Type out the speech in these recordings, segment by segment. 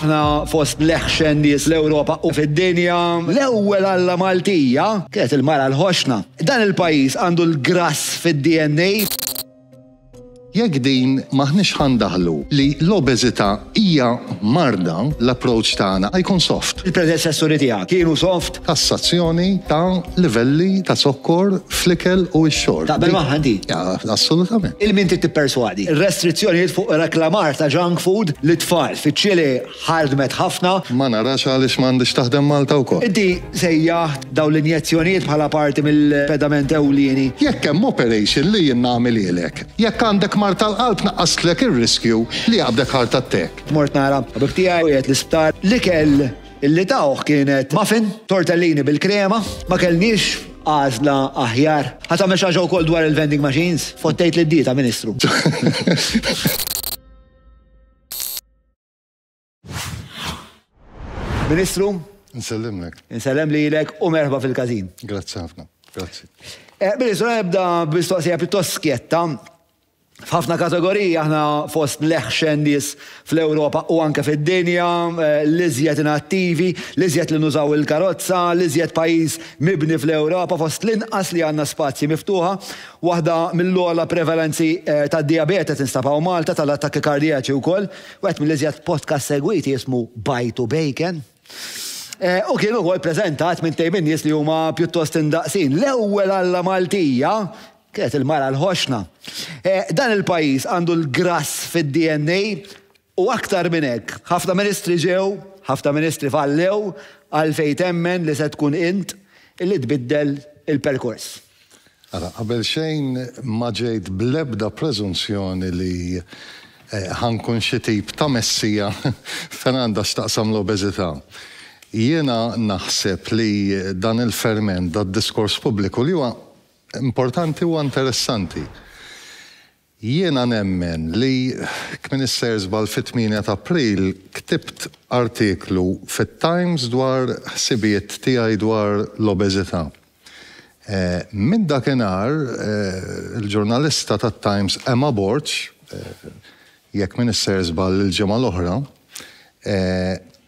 Aħna fost l-eħxen nies l-Ewropa u fid-dinja. L-ewwel alla Maltija kienet il-mara l-ħoxna. Dan il-pajjiż għandu l-grass fid-DNA. Jekk din m'aħniex ħa ndaħlu li l-obeżità hija marda, l-approach tagħna ħa jkun soft. Il-predeċessuri tiegħek kienu soft? Tassazzjoni ta' livelli ta' zokkor fl-ikel u x-xorb. Taqbel magħha inti? Assolutament. Lil min trid tipperswadi? Restrizzjonijiet fuq reklamar ta' junk food lit-tfal fiċ-Ċilì? Ħadmet ħafna. Ma narax għaliex ma għandhiex taħdem Malta wkoll. Inti sejjaħt dawn l-injezzjonijiet bħala parti mill-pedament ewlieni. Jekk hemm operation li jien nagħmilhielek. Jekk għandek mard tal-qalb naqqastlek ir-riskju li jaqbdek heart attack. Mort nara l-ħabib tiegħi u qiegħed l-isptar. L-ikel li tawh kienet muffin, tortellini bil-krema. Ma kellniex għażla aħjar. Ħa tagħmel xi ħaġa wkoll dwar il-vending machines? Fottejt lid-dieta, Ministru. Ministru? Nsellimlek. Nsellem li jilek u merħba fil-kazin. Grazzi ħafna. Grazzi. Eh, Ministru, ebda bistoqsija pittos skjetta. F'ħafna kategoriji aħna fost leħxen nis fl-Europa u anke fid-dinja, eh, l-iżjed inattivi, l-iżjed li nużaw il-karozza, l-iżjed pajis mibni fl-Europa fost l-inqas li għanna spazji miftuħa Waħda mill-ogħla prevalenzi tad-dijabete tinstab hawn Malta, tal-attakki kardjaċi wkoll. Wieħed mill-iżjed podcasts segwiti jismu Bite u Bacon. U kien ukoll preżentat minn tejb minn nies li huma pjuttost indaqsin. L-ewwel alla Maltija kienet il-mara l-ħoxna. Dan il-pajjiż għandu l-grass fid-DNA U aktar minn hekk, ħafna ministri ġew, ħafna ministri fallew, għalfejn temmen li se tkun int li tbiddel il-perkors? Ara, qabel xejn ma ġejt bl-ebda preżunzjoni li ħa nkun xi tip ta' messija fejn għandha x'taqsam l-obeżità. Jiena naħseb li dan il-ferment, dad-diskors pubbliku li huwa importanti, huwa interessanti. Jiena nemmen li, kmin isser żball fit-tmienja t'April ktibt artiklu fit-Times dwar ħsibijiet tiegħi dwar l-obeżità. Minn dakinhar il-ġurnalista tat-Times Emma Borg, jekk min isser żball il-ġimgħa l-oħra,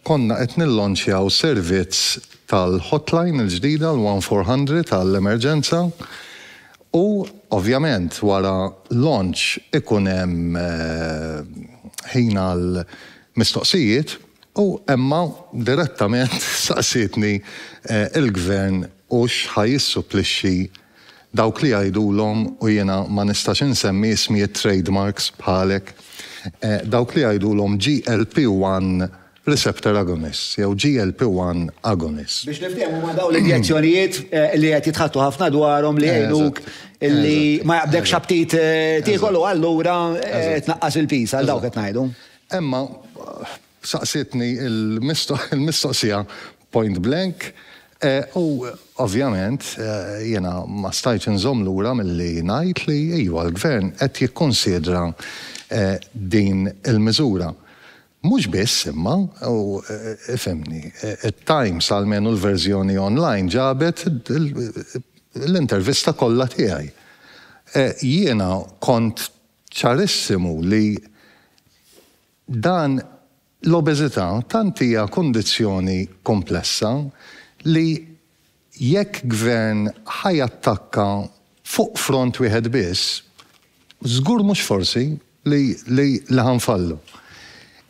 Konna qed nillonċjaw servizz tal-hotline il-ġdida l-one four hundred għall-emerġenza u ovvjament wara launch ikun hemm ħin għal mistoqsijiet u Emma direttament saqsietni il-Gvern hux ħa jissupplixxi Dawk li jgħidulhom, u jiena ma nistax insemmi ismijiet trade marks bħalek, dawk li jgħidulhom GLP one receptor agonist jew GLP one agonist. Biex niftehmu huma dawn l-injezzjonijiet li qed jitħaddtu ħafna dwarhom li jgħinuk li ma jaqbdekx aptit tiekol u allura tnaqqas il-piż, għal dawk qed ngħidu. Emma saqsietni l-mistoqsija Point blank. U ovvjament jiena ma stajtx inżomm lura milli ngħid li iva, l-Gvern qed jikkunsidra din il-miżura. Mhux biss imma, u ifhimni, it-Times, almenu l-verżjoni online, ġabet l-intervista kollha tiegħi. Jiena kont ċarissimu li dan L-obeżità tant hija kundizzjoni komplessa li jekk gvern ħa jattakka fuq front wieħed biss, żgur mhux forsi li li ħa nfallu.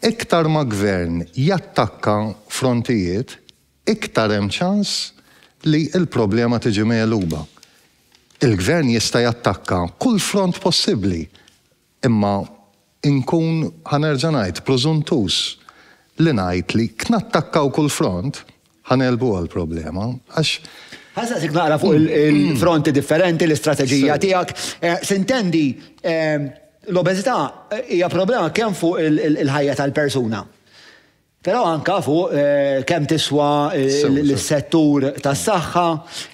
Iktar ma gvern jattakka frontijiet, iktar hemm ċans li l-problema tiġi megħluba. Il-gvern jista' jattakka kull front possibbli, Imma inkun, ħa nerġa' ngħid, prużuntuż li ngħid li jekk nattakkaw kull front, ħa negħlbuha l-problema, għax. Ħa nsaqsik naqra fuq il-fronti differenti, l-istrateġija tiegħek. Sintendi, l-obeżità hija problema kemm fuq il-ħajja tal-persuna. Però anke fuq kemm tiswa l-settur tas-saħħa,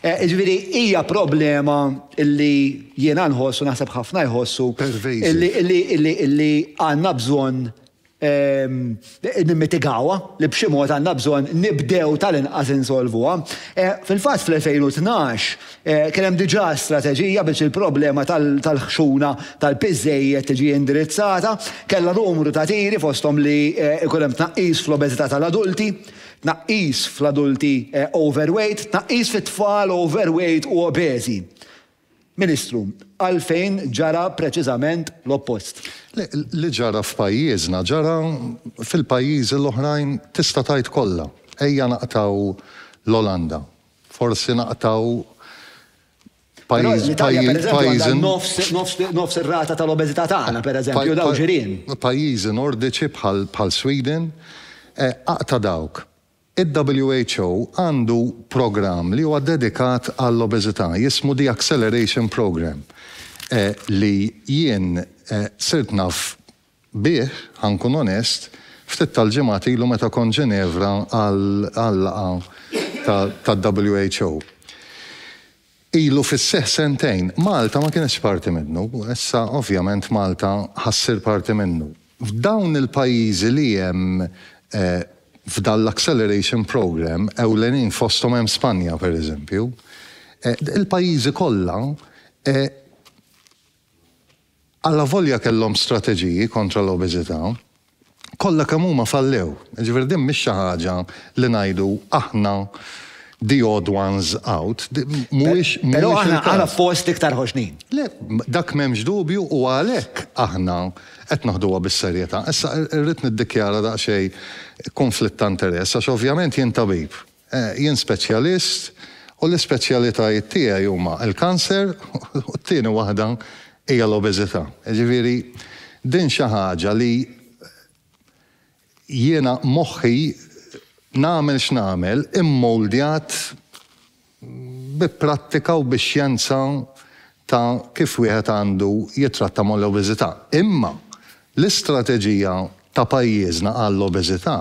jiġifieri hija problema li jiena nħoss u naħseb ħafna jħossu li għandna bżonn nimmitigawha, li b'xi mod għandna bżonn nibdew tal-inqas insolvuha. Fil-fatt fl-2012, Kien hemm diġà strateġija biex il-problema tal-ħxuna tal-piż żejjed tiġi indirizzata. Kellha numru ta' tiri fosthom li jkun hemm tnaqqis fl-obeżità tal-adulti, tnaqqis fl-adulti overweight, tnaqqis fit-tfal overweight u obeżi. Ministru, għalfejn ġara preċiżament l-oppost? Le, li ġara f'pajjiżna ġara fil-pajjiżi l-oħrajn tista' tgħid kollha. Ejja naqtgħu l-Olanda. Forsi naqtgħu Però l-Italja pereżempju għandha nofs, nofs, nofs ir-rata tal-obeżità tagħna pereżempju u dawn ġirien. Pajjiżi Nordiċi bħal, bħal Sweden, aqta' dawk. Il-WHO għandu programm li huwa dedikat għall-obeżità, jismu The Acceleration Programme, li jien sirt naf bih, ħa nkun onest, ftit tal-ġimgħat ilu meta kont Ġenevra għal-laqgħa tad-WHO. Ilu fis-seħħ sentejn. Malta ma kinetx parti minnu. Issa, ovvjament, Malta ħa ssir parti minnu. F'dawn il-pajjiżi li hemm f'dan l-acceleration programme, ewlenin fosthom hemm Spanja, pereżempju, il-pajjiżi kollha Allavolja kellhom strateġiji kontra l-obeżità, kollha kemm huma fallew. Jiġifieri din mhix xi ħaġa li ngħidu aħna the odd ones out. Mhuwiex il-każ. Però aħna fost l-iktar ħoġnin. Le, dak m'hemmx dubju u għalhekk aħna qed naħduha bis-serjetà. Issa rrid niddikjara daqsxejn kunflitt ta' interess għax ovvjament jien tabib Jien speċjalist u l-ispeċjalitajiet tiegħi huma l-kanser u t-tieni waħda hija l-obeżità. Jiġifieri din xi ħaġa li jiena moħħi nagħmel x'nagħmel immoldjat bi prattika u bi xjenza ta' kif wieħed għandu jittratta mal-obeżità. Imma l-istrateġija ta' pajjiżna għall-obeżità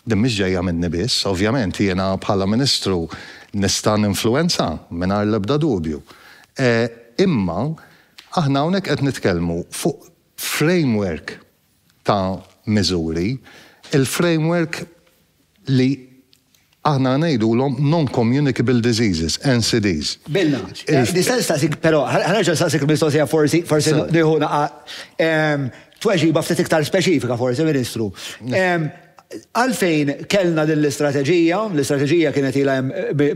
Din mhix ġejja minni biss. Ovvjament jiena bħala Ministru nista' ninfluwenza, mingħajr l-ebda dubju. Imma aħna hawnhekk qed nitkellmu fuq framework ta' miżuri, il-framework li aħna ngħidulhom non-communicable diseases, NCDs. Bilna. Nista' nistaqsik però, ħa nerġa' nistaqsik il-mistoqsija forsi, forsi nieħu naqgħa. Tweġiba ftit iktar speċifika forsi, Ministru. Għalfejn kellna din l-istrateġija, l-istrateġija kienet ilha hemm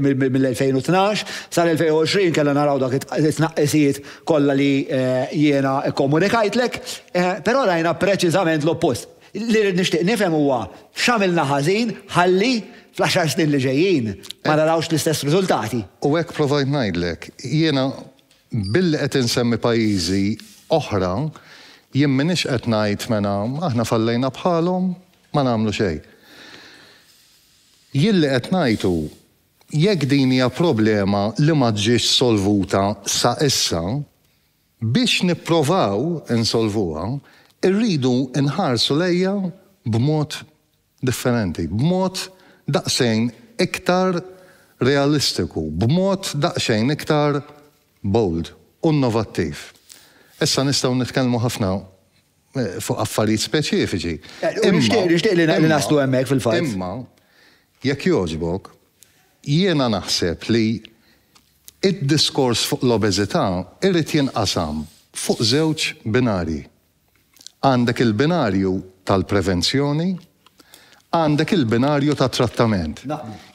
mill-2012 sal-2020 kellna naraw dak it-tnaqqisijiet kollha li jiena kkomunikajtlek, però rajna preċiżament l-oppost. Li rrid nixtieq nifhem huwa x'għamilna ħażin ħalli fl-għaxar snin li ġejjin ma narawx l-istess riżultati. U hekk provajt ngħidlek. Jiena Billi qed insemmi pajjiżi oħra, jien m'iniex qed ngħid mela aħna fallejna bħalhom, ma nagħmlu xejn. Jien li qed ngħid hu, jekk din hija problema li ma ġietx solvuta sa issa, biex nipprovaw insolvuha, irridu nħarsu lejha b'mod differenti, b'mod daqsxejn iktar realistiku, b'mod daqsxejn iktar bold u innovattiv. Issa nistgħu nitkellmu ħafna fuq affarijiet speċifiċi, imma. Nixtieq li naslu hemmhekk fil-fatt. Imma, jekk jogħġbok, jiena naħseb li d-diskors fuq l-obeżità jrid jinqasam fuq żewġ binarji. Għandek il-binarju tal-prevenzjoni, għandek il-binarju tat-trattament.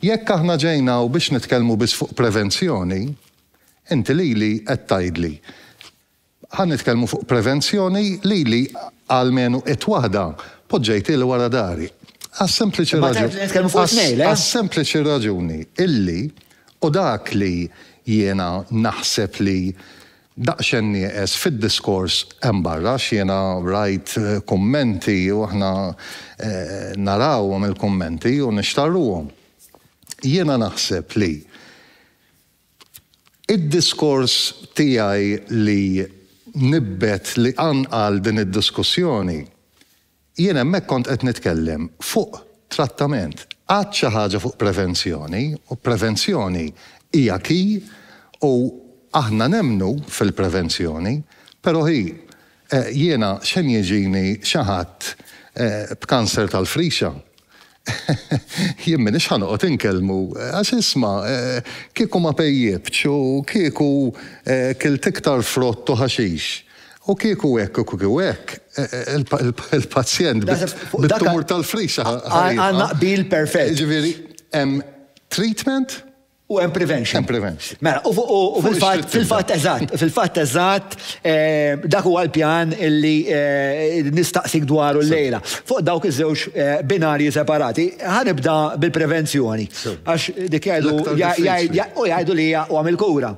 Jekk aħna ġejna hawn biex nitkellmu biss fuq prevenzjoni, inti lili qed tgħidli, ħa nitkellmu fuq prevenzjoni, lili almenu it waħda poġġejtieli wara dari. Għas-sempliċi raġuni. Imma tgħid li nitkellmu fuq it-tnejn, le? Għas-sempliċi raġuni illi, u dak li jiena naħseb li Daqsxejn nieqes fid-diskors hemm barra għax jiena rajt kummenti u aħna narawhom il-kummenti u nixtarruhom. Jiena naħseb li d-diskors tiegħi li nibbet li qanqal din id-diskussjoni Jien hemmhekk kont qed nitkellem fuq trattament. Għidt xi ħaġa fuq prevenzjoni, u prevenzjoni hija key u aħna nemmnu fil-prevenzjoni, però hi, jiena x'għen jiġini xi ħadd b'kanser tal-frixa Jien m'iniex ħa noqgħod inkellmu, għax isma', kieku ma pejjiptx u kieku kilt iktar frott u ħaxix, u kieku hekk u kieku hekk, il-pazjent bit-tumur tal-frisa ħa jibqa'. Għandna qbil perfett. Jiġifieri hemm treatment? U hemm prevention. Hemm prevention. Mela, u fil-fatt, fil-fatt eżatt, fil-fatt eżatt, eh, dak huwa l-pjan illi eh, nistaqsik dwaru l-lejla. Fuq dawk iż-żewġ eh, binarji separati, ħanibda bil-prevenzjoni. Għax dik jgħidu, u jgħidu li hija huwa mill-kura.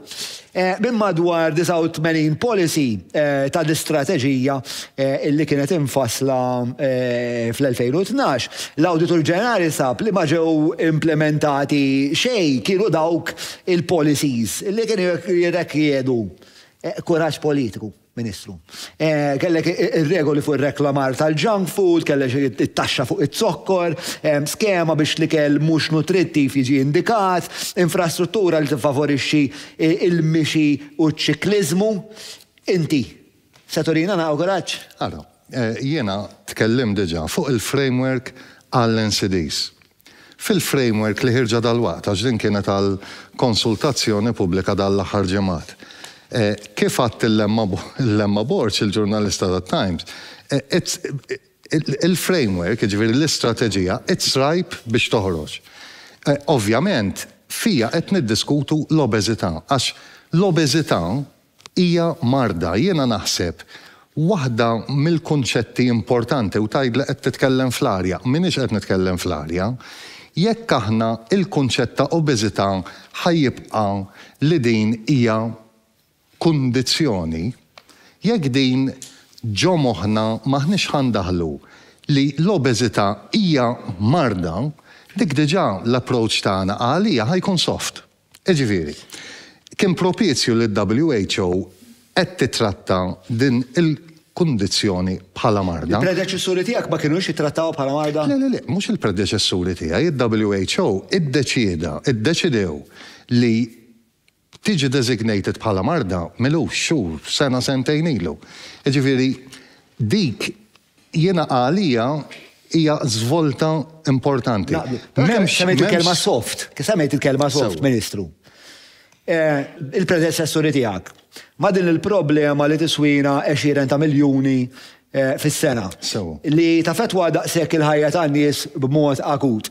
Minn madwar 89 policy ta' l-istrateġija li kienet imfassla fl-2012, l-Awditur Ġenerali sab li ma ġew implimentati xejn kienu dawk il-policies li kienu jirrekjedu kuraġġ politiku. Ministru. Kellek ir-regoli fuq ir-reklamar tal-junk food, kellek it-taxxa fuq iz-zokkor, skema biex l-ikel mhux nutrittiv jiġi indikat, infrastruttura li tiffavorixxi l-mixi u ċ-ċikliżmu. Inti se turina naqra kuraġġ? Ara, jiena tkellimt diġà fuq il-framework għall-NCDs. Fil-framework li ħirġa dalwaqt, għax din kienet għal konsultazzjoni pubblika dan l-aħħar ġimgħat, kif għad il-Lemma Borg, il-ġurnalista tat-Times, il-framework, jiġifieri l-istrateġija, it's ripe biex toħroġ. Ovvjament, fiha qed niddiskutu l-obeżità, għax l-obeżità, Hija marda, jiena naħseb, waħda mill-kunċetti importanti u tgħid li qed titkellem fl-arja. M'iniex qed nitkellem fl-arja. Jekk aħna l-kunċett ta' obeżità ħa jibqa' li din hija kundizzjoni, jekk din ġo moħħna m'aħniex ħa ndaħħlu li l-obeżità hija marda, dik diġà l-approach tagħna għaliha ħa jkun soft. Jiġifieri, kien propizju li l-WHO qed tittratta din il-kundizzjoni bħala marda. Il-predeċessuri tiegħek ma kinux jittrattawha bħala marda? Le, le, le, mhux il-predeċessuri tiegħi, il-WHO iddeċieda, iddeċidew li tiġi designated bħala marda m'ilux xhur, sena, sentejn ilu. Jiġifieri, dik Jiena għalija hija żvolta importanti. M'hemmx. Semmejt il-kelma soft. Semmejt il-kelma soft, Ministru. Il-predeċessuri tiegħek ma' din il-problema li tiswina għexieren ta' miljuni fis-sena li taffettwa daqshekk il-ħajja tan-nies b'mod akut.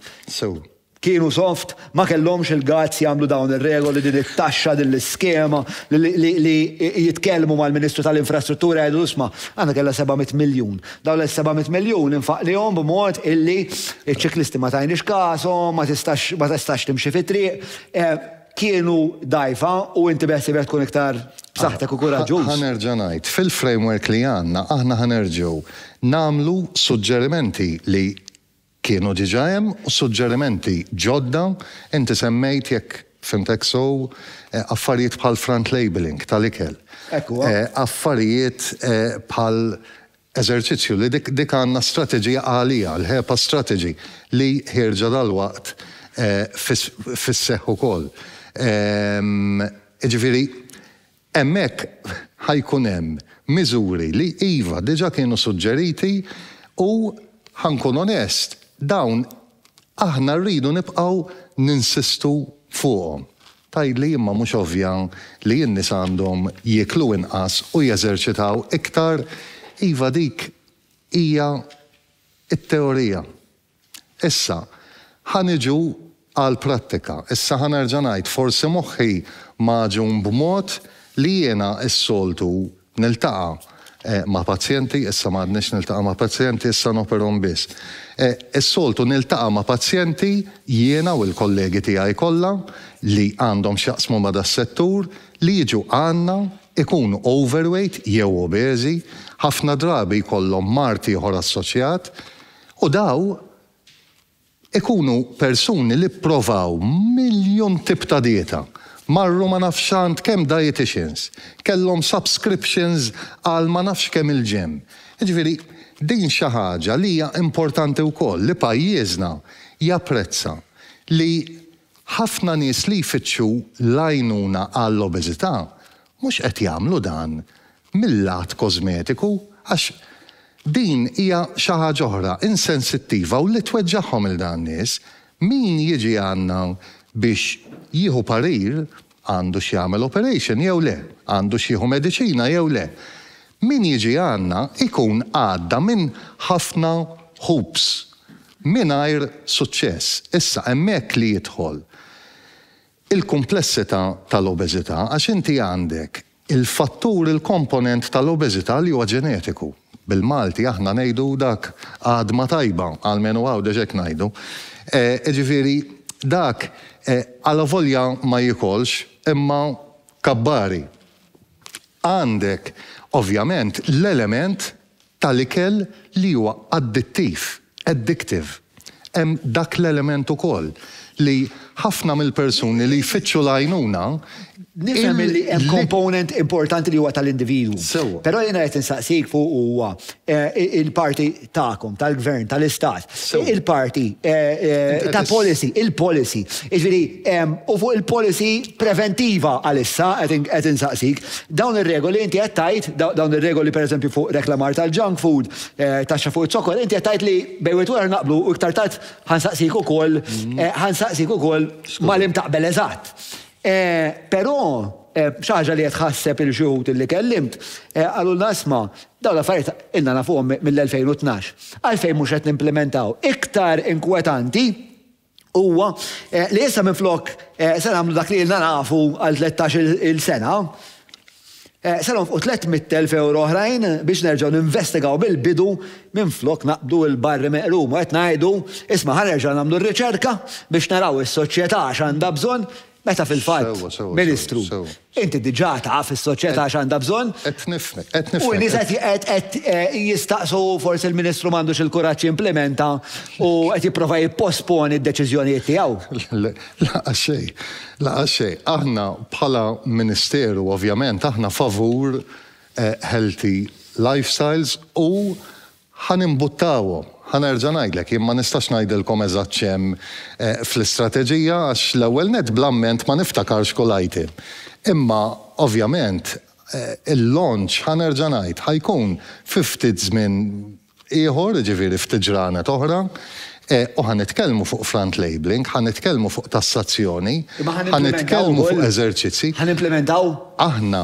Kienu soft, ma kellhomx il-guts jagħmlu dawn ir-regoli, din it-taxxa, din l-iskema, li jitkellmu mal-Ministru tal-Infrastruttura jgħidlu isma', aħna kellna seba' mitt miljun. Dawn is-seba' mitt miljun infaqnihom b'mod illi ċ-ċiklisti ma tajniex kashom, ma tistax ma tistax timxi fit-triq. Kienu dgħajfa u inti beħsiebek tkun iktar b'saħħtek u kuraġġuż. Ħa nerġa' ngħid, fil-framework li għandna aħna ħa nerġgħu nagħmlu suġġerimenti li Kienu diġà hemm suġġerimenti ġodda, inti semmejt, jekk fhimtek sew, affarijiet bħal front labelling tal-ikel. Hekk huwa. Affarijiet bħal eżerċizzju li dik għandna strateġija għaliha, l-HEPA strategy, li ħierġa dalwaqt fis-seħħ ukoll. Jiġifieri Hemmhekk ħa jkun hemm miżuri li, iva, diġà kienu suġġeriti u, ħa nkun onest, dawn aħna rridu nibqgħu ninsistu fuqhom. Tgħidli, imma mhux ovvja li n-nisa għandhom jieklu inqas u jeżerċitaw iktar? Iva, dik hija t-teorija. Issa, ħa niġu għall-prattika. Issa ħa nerġa' ngħid, forsi moħħi magħġun b'mod li jiena s-soltu niltaqa' ma' pazjenti, issa ma għadnix niltaqa' ma' pazjenti, issa noperhom biss. Is-soltu niltaqa' ma' pazjenti, jiena u l-kollegi tiegħi kollha li għandhom x'jaqsmu ma' das-settur, li jiġu għandna, ikunu overweight jew obeżi, ħafna drabi jkollhom mard ieħor assoċjat, U daw ikunu persuni li pprovaw miljun tip ta' dieta, marru ma nafx għand kemm dieticians, kellhom subscriptions għal ma nafx kemm il-gym. Jiġifieri din xi ħaġa li hija importanti wkoll li pajjiżna japprezza li ħafna nies li jfittxu l-għajnuna għall-obeżità Mhux qed jagħmlu dan mil-lat kożmetiku għax din hija xi ħaġa oħra, insensittiva u li tweġġagħhom lil dawn in-nies. Min jiġi għandna biex jieħu parir għandux jagħmel operation jew le, għandux jieħu mediċina jew le. Min jiġi għandna jkun għadda minn ħafna hoops mingħajr suċċess. Issa hemmhekk li jidħol il-kumplessità tal-obeżità għax inti għandek il-fattur, il-komponent tal-obeżità li huwa ġenetiku. Bil-Malti aħna ngħidu dak għadma tajba, almenu Għawdex hekk ngħidu. Jiġifieri dak alavolja ma jiekolx imma kabbari. Għandek ovvjament l-element tal-ikel li huwa addittiv, addictive. Hemm dak l-element ukoll li ħafna mill-persuni li jfittxu l-għajnuna, il- Nifhem li hemm component importanti li huwa tal-individwu. Sewwa. Però jiena qed insaqsik fuq huwa il-parti tagħkom, tal-Gvern, tal-Istat, Il-parti ta' policy, il-policy. Iġviri, u fuq il-policy preventiva għalissa, għed insaqsik, dawn il-regoli inti għed tajt, dawn il-regoli per eżempju fuq reklamar tal-junk food, eh, taxxa fuq il-zokor, inti għed tajt li bejwet wara naqblu u iktar tajt ħansaqsik u koll, mm. eh, ħansaqsik u koll malim taqbel eżat. Però, xi ħaġa li qed tħasseb lil xi wħud li kellimt, qalulna isma', dawn l-affarijiet ilna nafuhom mill-2012. Għalfejn mhux qed nimplimentaw? Iktar inkwetanti huwa li issa minflok se nagħmlu dak li ilna nafu għal tlettax-il sena, Se nonfqu tlett mitt elf ewro oħrajn biex nerġgħu ninvestigaw mill-bidu minflok naqbdu l-barri meqrum u qed ngħidu, isma' ħa nerġgħu nagħmlu r-riċerka biex naraw is-soċjetà x'għandha bżonn, meta fil-fatt, Ministru, inti diġà taf is-soċjetà x'għandha bżonn u n-nies qed qed jistaqsu forsi l-Ministru m'għandux il-kuraġġ jimplimenta u qed jipprova jipposponi d-deċiżjonijiet tiegħu. Lanqas xejn. Lanqas xejn. Aħna bħala Ministeru ovvjament aħna favur healthy lifestyles u ħa nimbuttawhom. Ħa nerġa' ngħidlek, jien ma nistax ngħidilkom eżatt x'hemm fl-istrateġija għax l-ewwel nett bl-amment ma niftakarx kull item. Imma ovvjament il-launch ħa nerġa' ngħid ħa jkun fi ftit żmien ieħor, jiġifieri ftit ġranet oħra, u ħa nitkellmu fuq front labelling, ħa nitkellmu fuq tassazzjoni, ħa nitkellmu fuq eżerċizzji. Ħa nimplimentaw? Aħna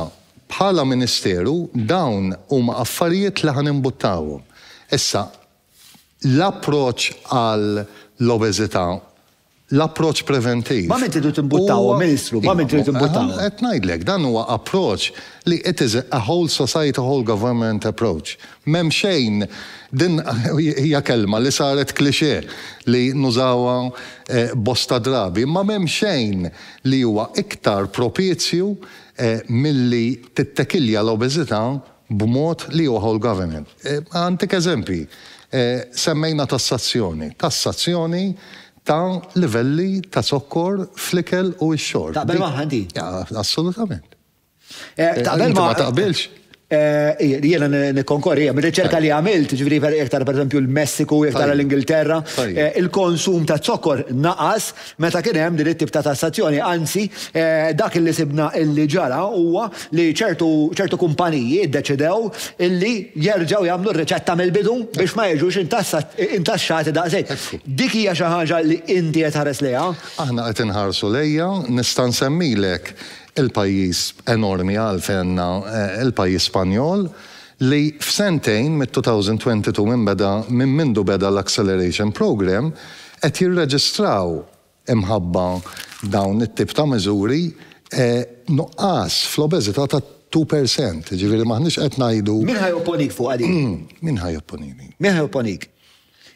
bħala Ministeru dawn huma affarijiet li ħa nimbuttawhom. Issa, l-approċċ għall-obeżità L-approċċ preventiv. Ma' min tridu timbuttawhom, Ministru? Ma' min tridu timbuttawhom? Qed ngħidlek, dan huwa approċċ li it is a whole society, whole government approach. M'hemm xejn, din hija kelma li saret cliché li nużawha bosta drabi, imma m'hemm xejn li huwa iktar propizju milli tittekilja l-obeżità b'mod li joħol government. Għantik eżempji, semmejna tassazzjoni, tassazzjoni ta' livelli ta' zokkor fl-ikel u x-xorb. Taqbel magħha inti? Assolutament. Taqbel magħha? Inti ma taqbilx? Jiena nikkonkorri, hemm riċerka li għamilt, jiġifieri jekk tara pereżempju l-Messiku, jekk tara l-Ingilterra, il-konsum ta' zokkor naqas Meta kien hemm din it-tip ta' tassazzjoni, anzi, dak li sibna li ġara huwa li ċertu kumpaniji ddeċidew li jerġgħu jagħmlu r-riċetta mill-bidu biex ma jiġux intaxxati daqshekk. Dik hija xi ħaġa li inti qed tħares lejha? Aħna qed inħarsu lejha. Nista' nsemmilek il-pajjiż enormi għalfenna, il-pajjiż Spanjol, li f'sentejn, mit-2022 minn beda, minn mindu beda l-Acceleration Programme, qed jirreġistraw, imħabba dawn it-tip ta' miżuri, nuqqas fl-obeżità ta' two per cent. Jiġifieri m'aħniex qed ngħidu. Min ħa jopponik fuqha din? Min ħa jopponini? Min ħa jopponik?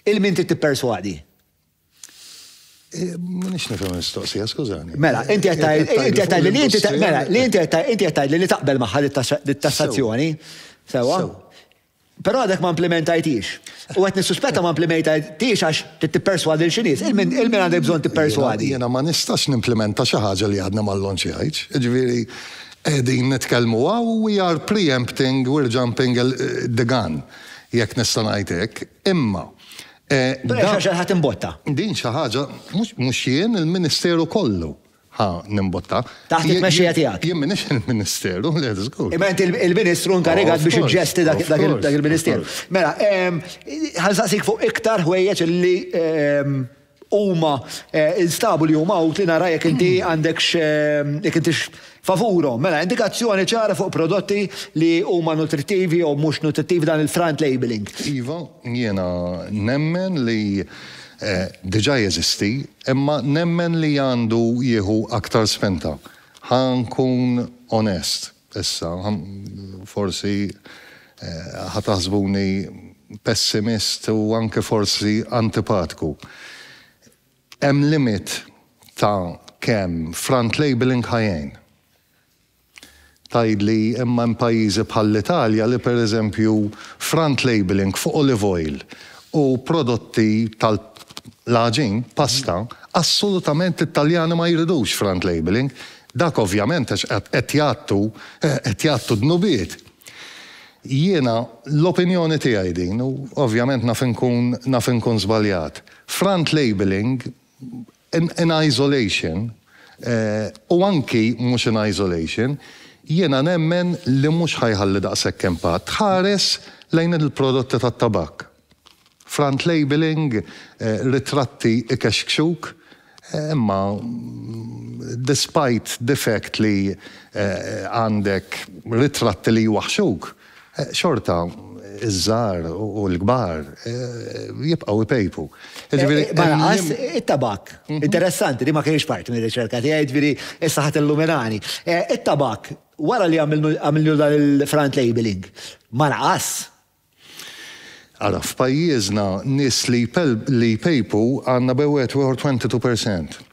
Il min trid tipperswadi? M'iniex nifhem il-mistoqsija, skużani. Mela, inti qed tgħidli li inti mela, li inti qed tgħidli li taqbel magħha dit-tassazzjoni. Sewwa? Però għadek ma implimentajthiex. U qed nissuspetta ma implimetajthiex għax trid tipperswadi lil xi nies. Il min għandek bżonn tipperswadi? Jiena ma nistax nimplimenta xi ħaġa li għadna ma llonċjajtx. Jiġifieri qegħdin nitkellmu hawn u we are pre-empting, we're jumping the gun, jekk nista' ngħid hekk. Imma dan. Però hija xi ħaġa li ħadd imbottha. Din xi ħaġa, mhux jien, il-Ministeru kollu. Ħa nimbotta. Taħt it-tmexxija tiegħek. Jien m'iniex il-Ministeru, le żgur. Imma int il-Ministru inkarigat biex iġġesti dak il-Ministeru. Mela, ħa nsaqsik fuq iktar ħwejjeġ li huma nstabu li huma utli nara jekk inti għandekx jekk intix favurhom. Mela, indikazzjoni ċara fuq prodotti li huma nutrittivi jew mhux nutrittivi dan il-front labeling. Iva, jiena nemmen li diġà jeżisti Imma nemmen li għandu jieħu aktar spinta. Ħa nkun onest issa, forsi ħa taħsbuni pessimist u anke forsi antipatku. Hemm limit ta' kemm front-labelling ħa jgħin. Tgħidli, imma hemm pajjiżi bħall-Italja li per eżempju front labelling fuq olive oil u prodotti tal-għaġin, pasta, assolutament l-Italjani ma jridux front labelling, dak ovvjament għax qed jgħattu, qed jgħattu dnubiet. Jiena, l-opinjoni tiegħi din, u ovvjament naf inkun, naf inkun żbaljat, front labelling in isolation u anki mhux in isolation, jiena nemmen li mhux ħa jħalli daqshekk impatt. Ħares lejn il-prodotti tat-tabakk. Front labelling, ritratti ikexkxuk, imma despite the fact li għandek ritratti li jwaħħxuk, Xorta, iż-żgħar u l-kbar jibqgħu jpejpu. Jiġifieri. Ma lanqas it-tabakk. Interessanti, din ma kinitx parti mir-riċerka tiegħi, jiġifieri issa ħa tillumilani. It-tabakk, wara li għamilnilu dan il-front labelling, ma naqas? Ara, f'pajjiżna nies li jpejpu għandna bejn wieħed u ieħor 22%.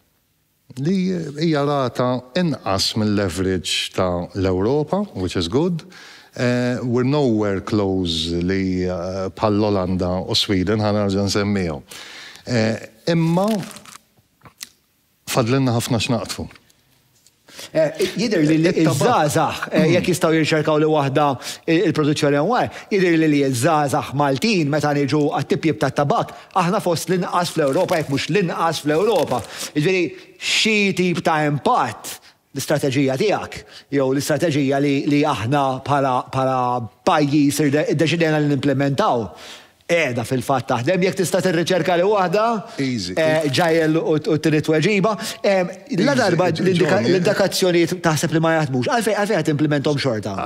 li hija rata inqas mill-average ta' l-Ewropa, which is good, we're nowhere close li bħall-Olanda u Sweden, ħa nerġa' nsemmihom. Imma fadlilna ħafna x'naqtfu. Jidher li ż-żgħażagħ, jekk jistgħu jirċerkaw li waħda l-produzzjoni hawn, jidhirli li ż-żgħażagħ Maltin meta niġu għat-tipjip tat-tabakk, Aħna fost l-inqas fl-Ewropa, jekk mhux l-inqas fl-Ewropa. Jiġifieri, xi tip ta' impatt l-istrateġija tiegħek jew l-istrateġija li aħna bħala pajjiż iddeċidejna li nimplimentaw qiegħda fil-fatt taħdem. Jekk tista' tirriċerka li waħda, ġegħel u tini tweġiba. Ladarba l-indikazzjonijiet taħseb li ma jaħdmux, għalfejn qed timplimenthom xorta?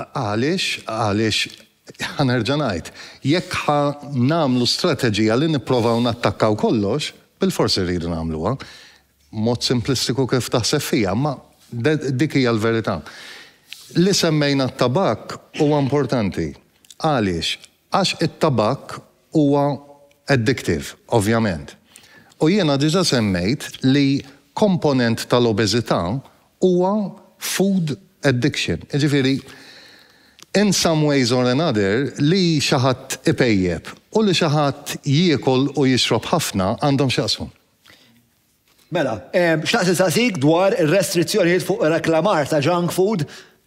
Għaliex Ħa nerġa' ngħid, jekk ħa nagħmlu strateġija li nipprovaw nattakkaw kollox, bilfors irridu nagħmluha. Mod simplistiku kif taħseb fija, imma dik hija l-verità. Li semmejna t-tabakk huwa importanti. Għaliex? Għax it-tabakk huwa addictive, ovvjament. U jiena diġà semmejt li komponent tal-obeżità huwa food addiction, jiġifieri in some ways or another li xi ħadd ipejjep u li xi ħadd jiekol u jixrob ħafna għandhom x'jaqsmu. Mela, xtaqt insaqsik dwar ir-restrizzjonijiet fuq ir-reklamar ta' junk food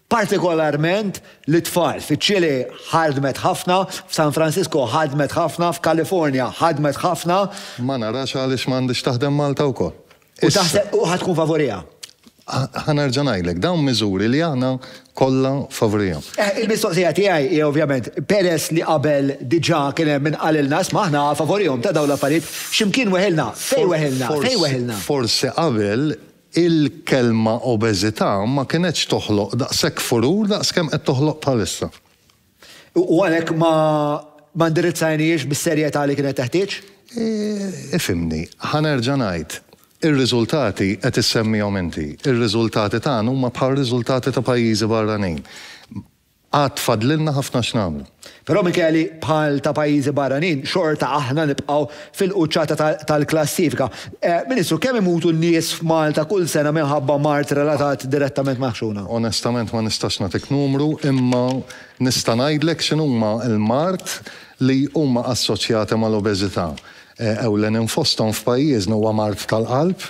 partikolarment lit-tfal. Fiċ-Ċilì ħadmet ħafna, f'San Francisco ħadmet ħafna, f'Kalifornja ħadmet ħafna. Ma narax għaliex ma għandhiex taħdem Malta wkoll. U taħseb u ħa tkun favuriha? Ħa nerġa' ngħidlek, dawn miżuri li aħna kollha favorihom. Il-mistoqsija tiegħi hi ovvjament, peress li qabel diġà kien hemm min qalilna, isma' aħna favorihom ta' dawn l-affarijiet, x'imkien weħilna, fejn weħilna, fejn weħilna? Forsi qabel Il-kelma obeżità ma kinetx toħloq daqshekk furur daqs kemm qed toħloq bħalissa. U għalhekk ma ma indirizzajnihiex bis-serjetà li kienet teħtieġ? Ifhimni, ħa nerġa' ngħid, ir-riżultati qed issemmihom inti. Ir-riżultati tagħna huma bħar-riżultati ta' pajjiżi barranin. Għad fadlilna ħafna x'nagħmlu. Però minkejja li bħal ta' pajjiżi barranin xorta aħna nibqgħu fil-quċċata tal-klassifika. Ministru, kemm imutu n-nies f'Malta kull sena minħabba mard relatat direttament mal-ħxuna? Onestament ma nistax nagħtik numru imma nista' ngħidlek x'inhuma l-mard li huma assoċjati mal-obeżità. Ewlenin fosthom f'pajjiżna huwa mard tal-qalb,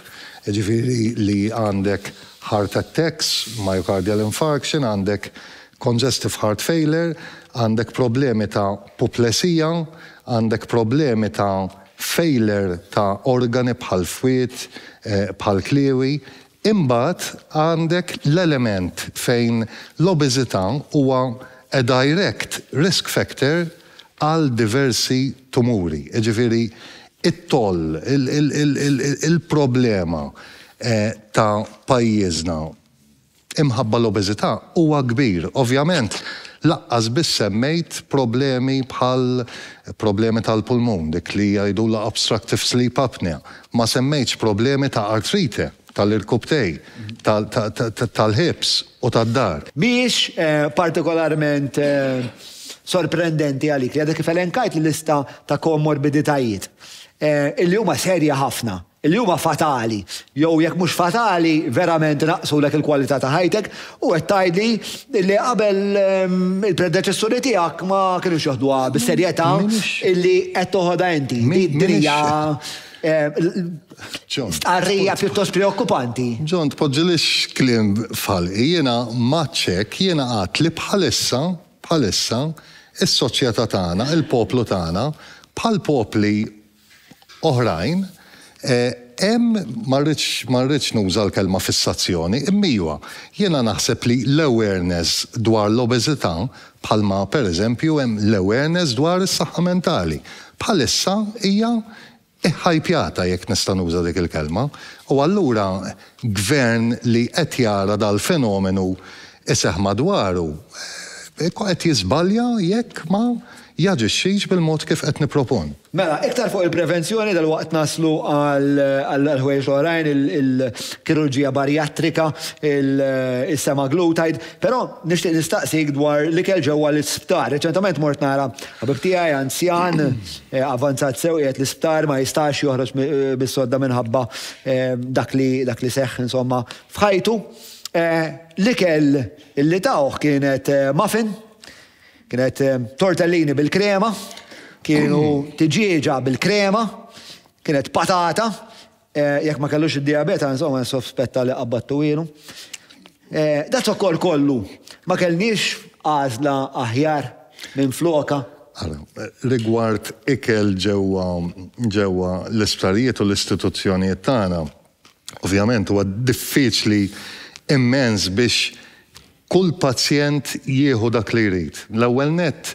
jiġifieri li għandek heart attacks, myocardial infarction, għandek congestive heart failure, għandek problemi ta' puplesija, għandek problemi ta' failure ta' organi bħall-fwied, bħall-kliewi, Imbagħad għandek l-element fejn l-obeżità huwa a direct risk factor għal diversi tumuri, jiġifieri t-toll, il-problema ta' pajjiżna imħabba l-obeżità huwa kbir. Ovvjament lanqas biss semmejt problemi bħal problemi tal-pulmun, dik li jgħidulha obstructive sleep apnea, Ma semmejtx problemi ta' artrite, tal-irkupptej, tal-hips u tad-dar. Mhijiex partikolarment sorprendenti għalik li għadek kif elenkajt l-lista ta' komorbiditajiet, illi huma serji ħafna, illi huma fatali, jew jekk mhux fatali, verament inaqqsulek il-kwalità ta' ħajtek U qed tgħidli li qabel il-predeċessuri tiegħek ma kinux joħduha bis-serjetà illi qed toħodha inti. Din hija stqarrija pjuttost preokkupanti. John, tpoġġilix kliem f'ħalqi. Jiena m'għadx hekk, jiena għadt li bħalissa, bħalissa, is-soċjetà tagħna, il-poplu tagħna, bħall-popli oħrajn, hemm, ma rridx, ma rridx nuża l-kelma fissazzjoni, imma iva, jiena naħseb li l-awareness dwar l-obeżità, bħalma pereżempju hemm l-awareness dwar is-saħħa mentali, bħalissa hija ħhajpjata, jekk nista' nuża dik il-kelma, u allura Gvern li qed jara dal-fenomenu iseħħ madwaru qed jiżbalja jekk ma jaġixxix bil-mod kif qed nippropon. Mela, iktar fuq il-prevenzjoni dalwaqt naslu għall-ħwejjeġ l-oħrajn, il-kirurġija barjattrika, is-semaglutide, però nixtieq nistaqsik dwar l-ikel ġewwa l-isptar. Reċentament mort nara ħabib tiegħi anzjan, avvanzat sew, qiegħed l-isptar, ma jistax joħroġ mis-sodda minħabba dak li seħħ insomma f'ħajtu. L-ikel li tawh kienet muffin, Kienet tortellini bil-krema, kienu tiġieġa bil-krema, kienet patata, jekk ma kellux id-dijabeta, insomma, nsofspetta li qabbattu ilu. Da zokkor kollu, ma kellniex għażla aħjar minn floka? Rigward ikel ġewwa l-isptarijiet u l-istituzzjonijiet tagħna, Ovvjament huwa diffiċli immens biex kull pazjent jieħu dak li jrid. L-ewwel nett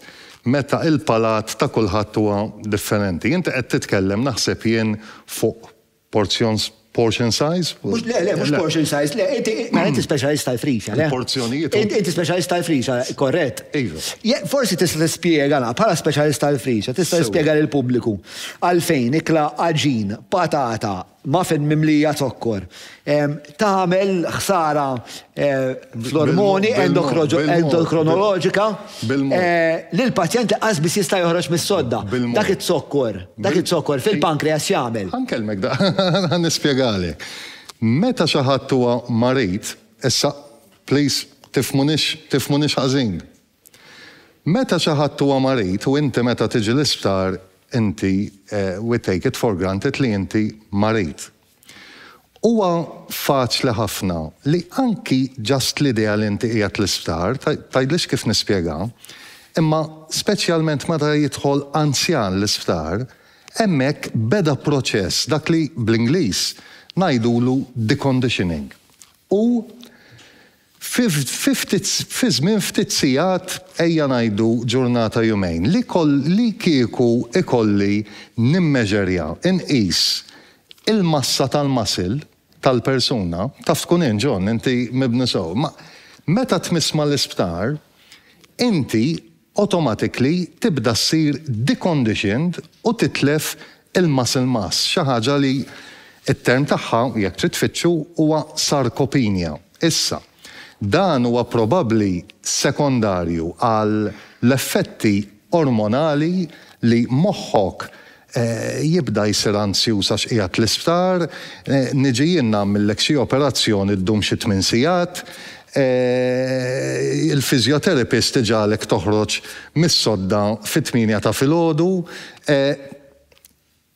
meta il-palat ta' kulħadd huwa differenti. Inti qed titkellem naħseb jien fuq porzjon portion size? Mhux le le, mhux portion size, le, inti mela inti speċjalist tal-frisa, le? Porzjonijiet. Inti speċjalist tal-frisa, korrett? Iva. Forsi tista' tispjega la bħala speċjalist tal-frisa, tista' tispjega lill-pubbliku għalfejn ikla għaġin, patata, Muffin mimlija zokkor. Tagħmel ħsara fl-ormoni endokronoloġika li l-pazjent qas biss jista' joħroġ mis-sodda. Dak iz-zokkor, dak iz-zokkor fil-pankreas x'jagħmel? Ħa nkellmek da, ħa nispjegalek. Meta xi ħadd huwa marid, issa please tifhmunix tifhmunix ħażin. Meta xi ħadd huwa marid u inti meta tiġi l-isptar inti we take it for granted li inti marid. Huwa faċli ħafna li anki just l-idea li inti qiegħed l-isptar, tgħidlix kif nispjega, imma speċjalment meta jidħol anzjan l-isptar, hemmhekk beda proċess, dak li bl-Ingliż ngħidulu deconditioning. U Fi żmien ftit sigħat, ejja ngħidu ġurnata jumejn, li kieku ikolli nimmeġerja, inqis, il-massa tal-muscle tal-persuna, taf tkun int John, inti mibni sew, meta tmiss mal-isptar, inti automatically tibda ssir deconditioned u titlef il-muscle mass, xi ħaġa li t-term tagħha, jekk trid tfittxu, huwa sarcopenia. Issa, dan huwa probabbli sekondarju għal l-effetti ormonali li moħħok Jibda jsir anzjuż għax qiegħed l-isptar. Niġi jien nagħmillek xi operazzjoni ddum xi tmien sigħat. Il-physiotherapist iġagħlek toħroġ mis-sodda fit-tmienja ta' filgħodu.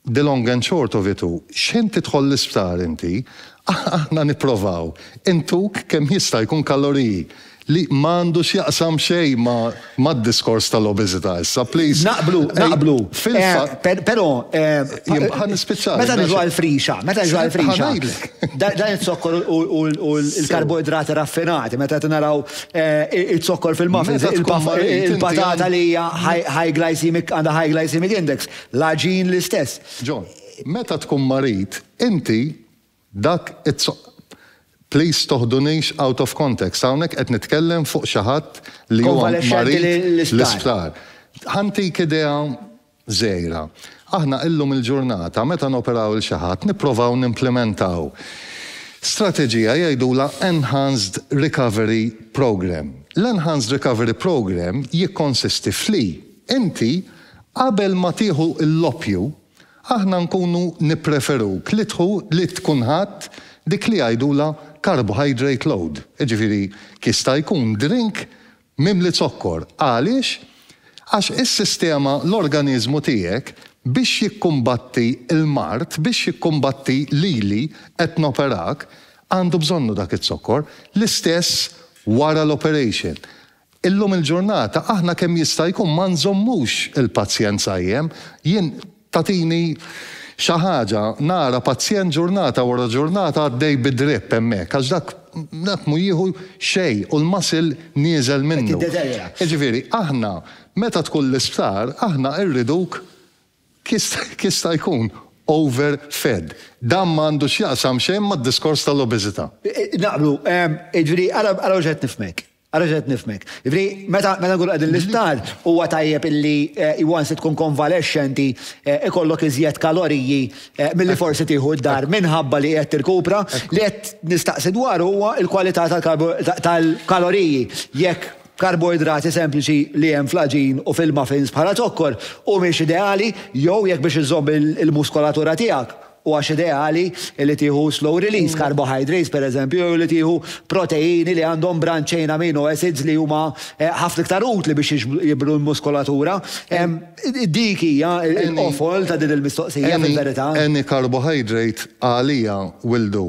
The long and short of it hu, x'ħin tidħol l-isptar inti, aħna nipprovaw intuk kemm jista' jkun kaloriji. Li ma għandu x'jaqsam xejn ma' mad-diskors tal-obeżità issa, please. Naqblu, naqblu. Fil-fatt. Però. Ħa nispiċċa. Meta niġu għall-frixa, meta niġu għall-frixa. Ħa ngħidlek. Dan iz-zokkor u l-karboidrati raffinati, meta qed naraw iz-zokkor fil-muffins, il-patata li hija high glycemic, għandha high glycemic index, l-għaġin l-istess. John, meta tkun marid, inti Dak it Please toħdunix out of context, hawnhekk qed nitkellem fuq xi ħadd li huwa marid l-isptar. Ħa ntik idea żgħira. Aħna illum il-ġurnata meta noperaw 'il xi ħadd nipprovaw nimplimentaw strateġija jgħidulha enhanced recovery programme. L-enhanced recovery programme jikkonsisti f'li inti qabel ma tieħu l-oppju Aħna nkunu nippreferuk li tħu li tkun ħadt dik li jgħidulha carbohydrate load, jiġifieri jista' jkun drink mimli zokkor. Għaliex? Għax is-sistema, l-organiżmu tiegħek biex jikkumbatti l-mard, biex jikkumbatti lili qed noperak, għandu bżonnu dak iz-zokkor. L-istess wara l-operation. Illum il-ġurnata aħna kemm jista' jkun ma nżommux il-pazjenza jien, jien tagħtini xi ħaġa nara pazjent ġurnata wara ġurnata għaddej bi drip hemmhekk għax dak dak mhu jieħu xejn u l-muscle nieżel minnu. Qed jiddeterjora. Jiġifieri aħna meta tkun l-isptar aħna rriduk kemm jista' jkun over fed. Dan ma għandu x'jaqsam xejn mad-diskors tal-obeżità. Naqblu. Jiġifieri ara ara mhux qed nifhmek. Ara x'qed nifhmek. Jiġifieri meta nkunu qegħdin l-isptar huwa tajjeb illi once li tkun konvalexxenti ikollok iżjed kaloriji milli forsi tieħu d-dar minħabba li qed tirkupra. Li qed nistaqsi dwaru huwa l-kwalità tal-kaloriji. Jekk karboidrati sempliċi li hemm fl-għaġin u fil-muffins bħala zokkor humiex ideali jew jekk biex iżżomm il-muskolatura tiegħek Huwax ideali li tieħu slow release carbohydrates, pereżempju, jew li tieħu proteini li għandhom branch chain amino acids li huma ħafna iktar utli biex jibnu l-muskolatura? Dik hija l-qofol ta' din il-mistoqsija fil-verità. Any carbohydrate għalija will do.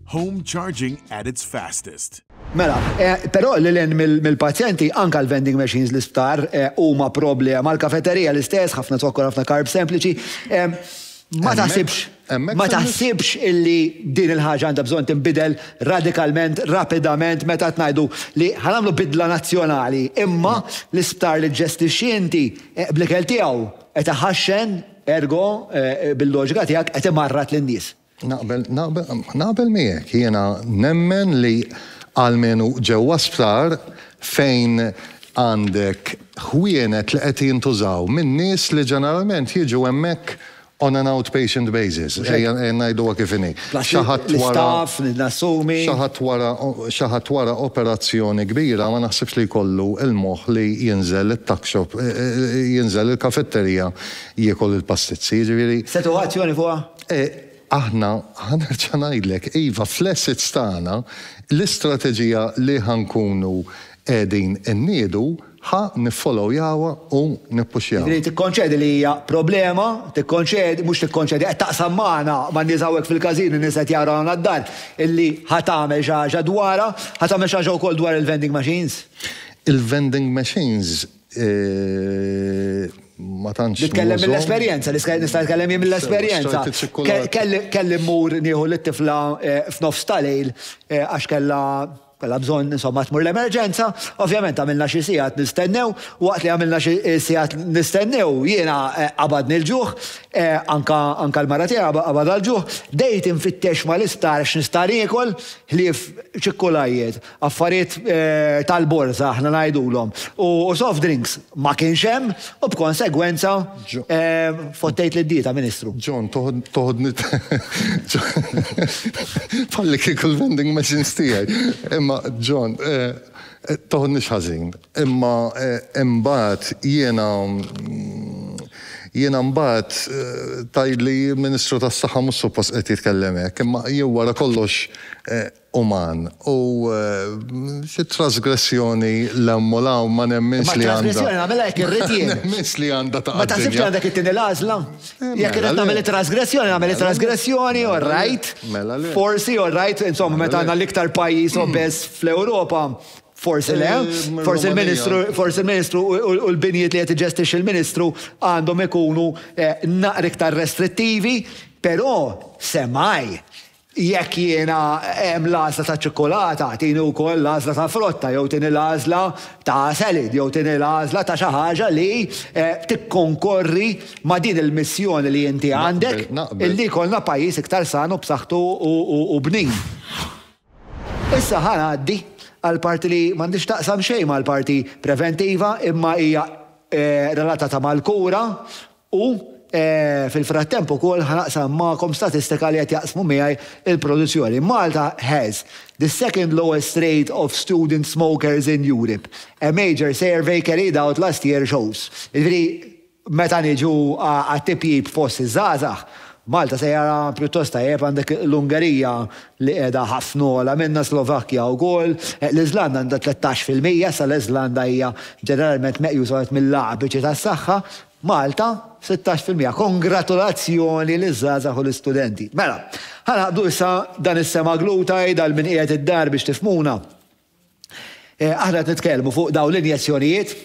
Home charging at its fastest. Mela, però lil hinn mill-pazjenti, anke l-vending machines l-isptar huma problema, l-kafeterija l-istess, ħafna zokkor, ħafna carbs sempliċi. Ma taħsibx, ma taħsibx illi din il-ħaġa għandha bżonn tinbidel radikalment, rapidament meta qed ngħidu li ħa nagħmlu bidla nazzjonali, imma l-isptar li ġġestixxi inti bl-ikel tiegħu qed iħaxxen, ergo, bil-loġika tiegħek qed imarrad lin-nies. Naqbel, naqbel, naqbel miegħek, jiena nemmen li almenu ġewwa sptar fejn għandek ħwienet li qed jintużaw minn nies li ġeneralment jiġu hemmhekk on an outpatient basis, ejja ngħiduha kif inhi. Xi ħadd wara. nassumi. Xi ħadd wara, xi ħadd wara operazzjoni kbira ma naħsibx li jkollu l-moħħ li jinżel it-tuck shop, jinżel il-kafetterija jiekol il-pastizzi, jiġifieri. Se tieħu azzjoni fuqha? E aħna, ħa nerġa' ngħidlek, iva, fl-assets tagħna, l-istrateġija li ħa nkunu qegħdin inniedu ħa niffolowjawha u nippuxjawha. Jiġifieri tikkonċedi li hija problema, tikkonċedi, mhux tikkonċedi, qed taqsam magħna, man-nies hawnhekk fil-każin, in-nies qed jaraw hawn għad-dar, illi ħa tagħmel xi ħaġa dwarha, ħa tagħmel xi ħaġa wkoll dwar il-vending machines? Il-vending machines Ma tantx. Nitkellem mill-esperjenza, nista' nitkellem jien mill-esperjenza. Kelli mmur nieħu lit-tifla eh, f'nofs tal-lejl eh, għax kellha kellha bżonn insomma tmur l-emerġenza, ovvjament għamilna xi sigħat nistennew, waqt li għamilna xi eh, sigħat nistennew jiena qabadni l-ġuħ, anka anka l-mara tiegħi qabadha l-ġuħ, dejt infittex ma l-istar x'nista' niekol ħlief ċikkulajjiet. Affarijiet tal-borża aħna ngħidulhom. U soft drinks ma kienx hemm u b'konsegwenza fottejt lid-dieta, Ministru. John, toħodni bħallikieku l-vending machines tiegħi. Imma John, toħodnix ħażin, imma imbagħad jiena, jiena mbagħad tgħidli l-Ministru tas-Saħħa mhux suppost qiegħed jitkellem hekk, imma jien wara kollox uman u xi trasgressjoni 'l hemm u 'l hawn ma nemminx li għandha. Imma t-trasgressjoni nagħmilha jekk irrid jien. Ma nemminx li għandha taqa' d-dinja. Ma taħsibx li għandek it-tieni l-għażla? Jekk irrid nagħmel it-trasgressjoni, nagħmel it-trasgressjoni, all right. Mela le. Forsi, all right, insomma meta aħna l-iktar pajjiż obeż fl-Ewropa, forsi le. Forsi l-Ministru, forsi l-Ministru u l-binjiet li qed iġestixxi l-Ministru għandhom ikunu naqra iktar restrittivi, però semmgħi Jekk jiena hemm l-għażla taċ-ċikkulata, tini wkoll l-għażla tal-frotta jew tini l-għażla ta' salad jew tini l-għażla ta' xi ħaġa li tikkonkorri ma' din il-missjoni li inti għandek, illi jkollna pajjiż iktar san u b'saħħtu u bnin. Issa ħa ngħaddi għall-parti li m'għandhiex taqsam xejn mal-parti preventiva imma hija relatata mal-kura U, fil-frattemp ukoll ħa naqsam magħkom statistika li qed jaqsmu miegħi l-produzzjoni. Malta has the second lowest rate of student smokers in Europe, a major survey carried out last year shows. Jiġifieri, meta niġu għat-tipjip fost iż-żgħażagħ, Malta sejra pjuttost tajjeb, għandek l-Ungerija li qiegħda ħafna ogħla minnha, Slovakkja wkoll, l-Iżlanda għandha tlettax fil-mija, issa l-Iżlanda hija ġeneralment meqjusa wieħed mill-aqwa biċi tas-saħħa, Malta, sittax fil-mija. Kongratulazzjoni liż-żgħażagħ u l-istudenti. Mela, ħa naqdu issa dan is-semaglutide għal min qiegħed id-dar biex tifhmuna. Aħna qed nitkellmu fuq dawn l-injezzjonijiet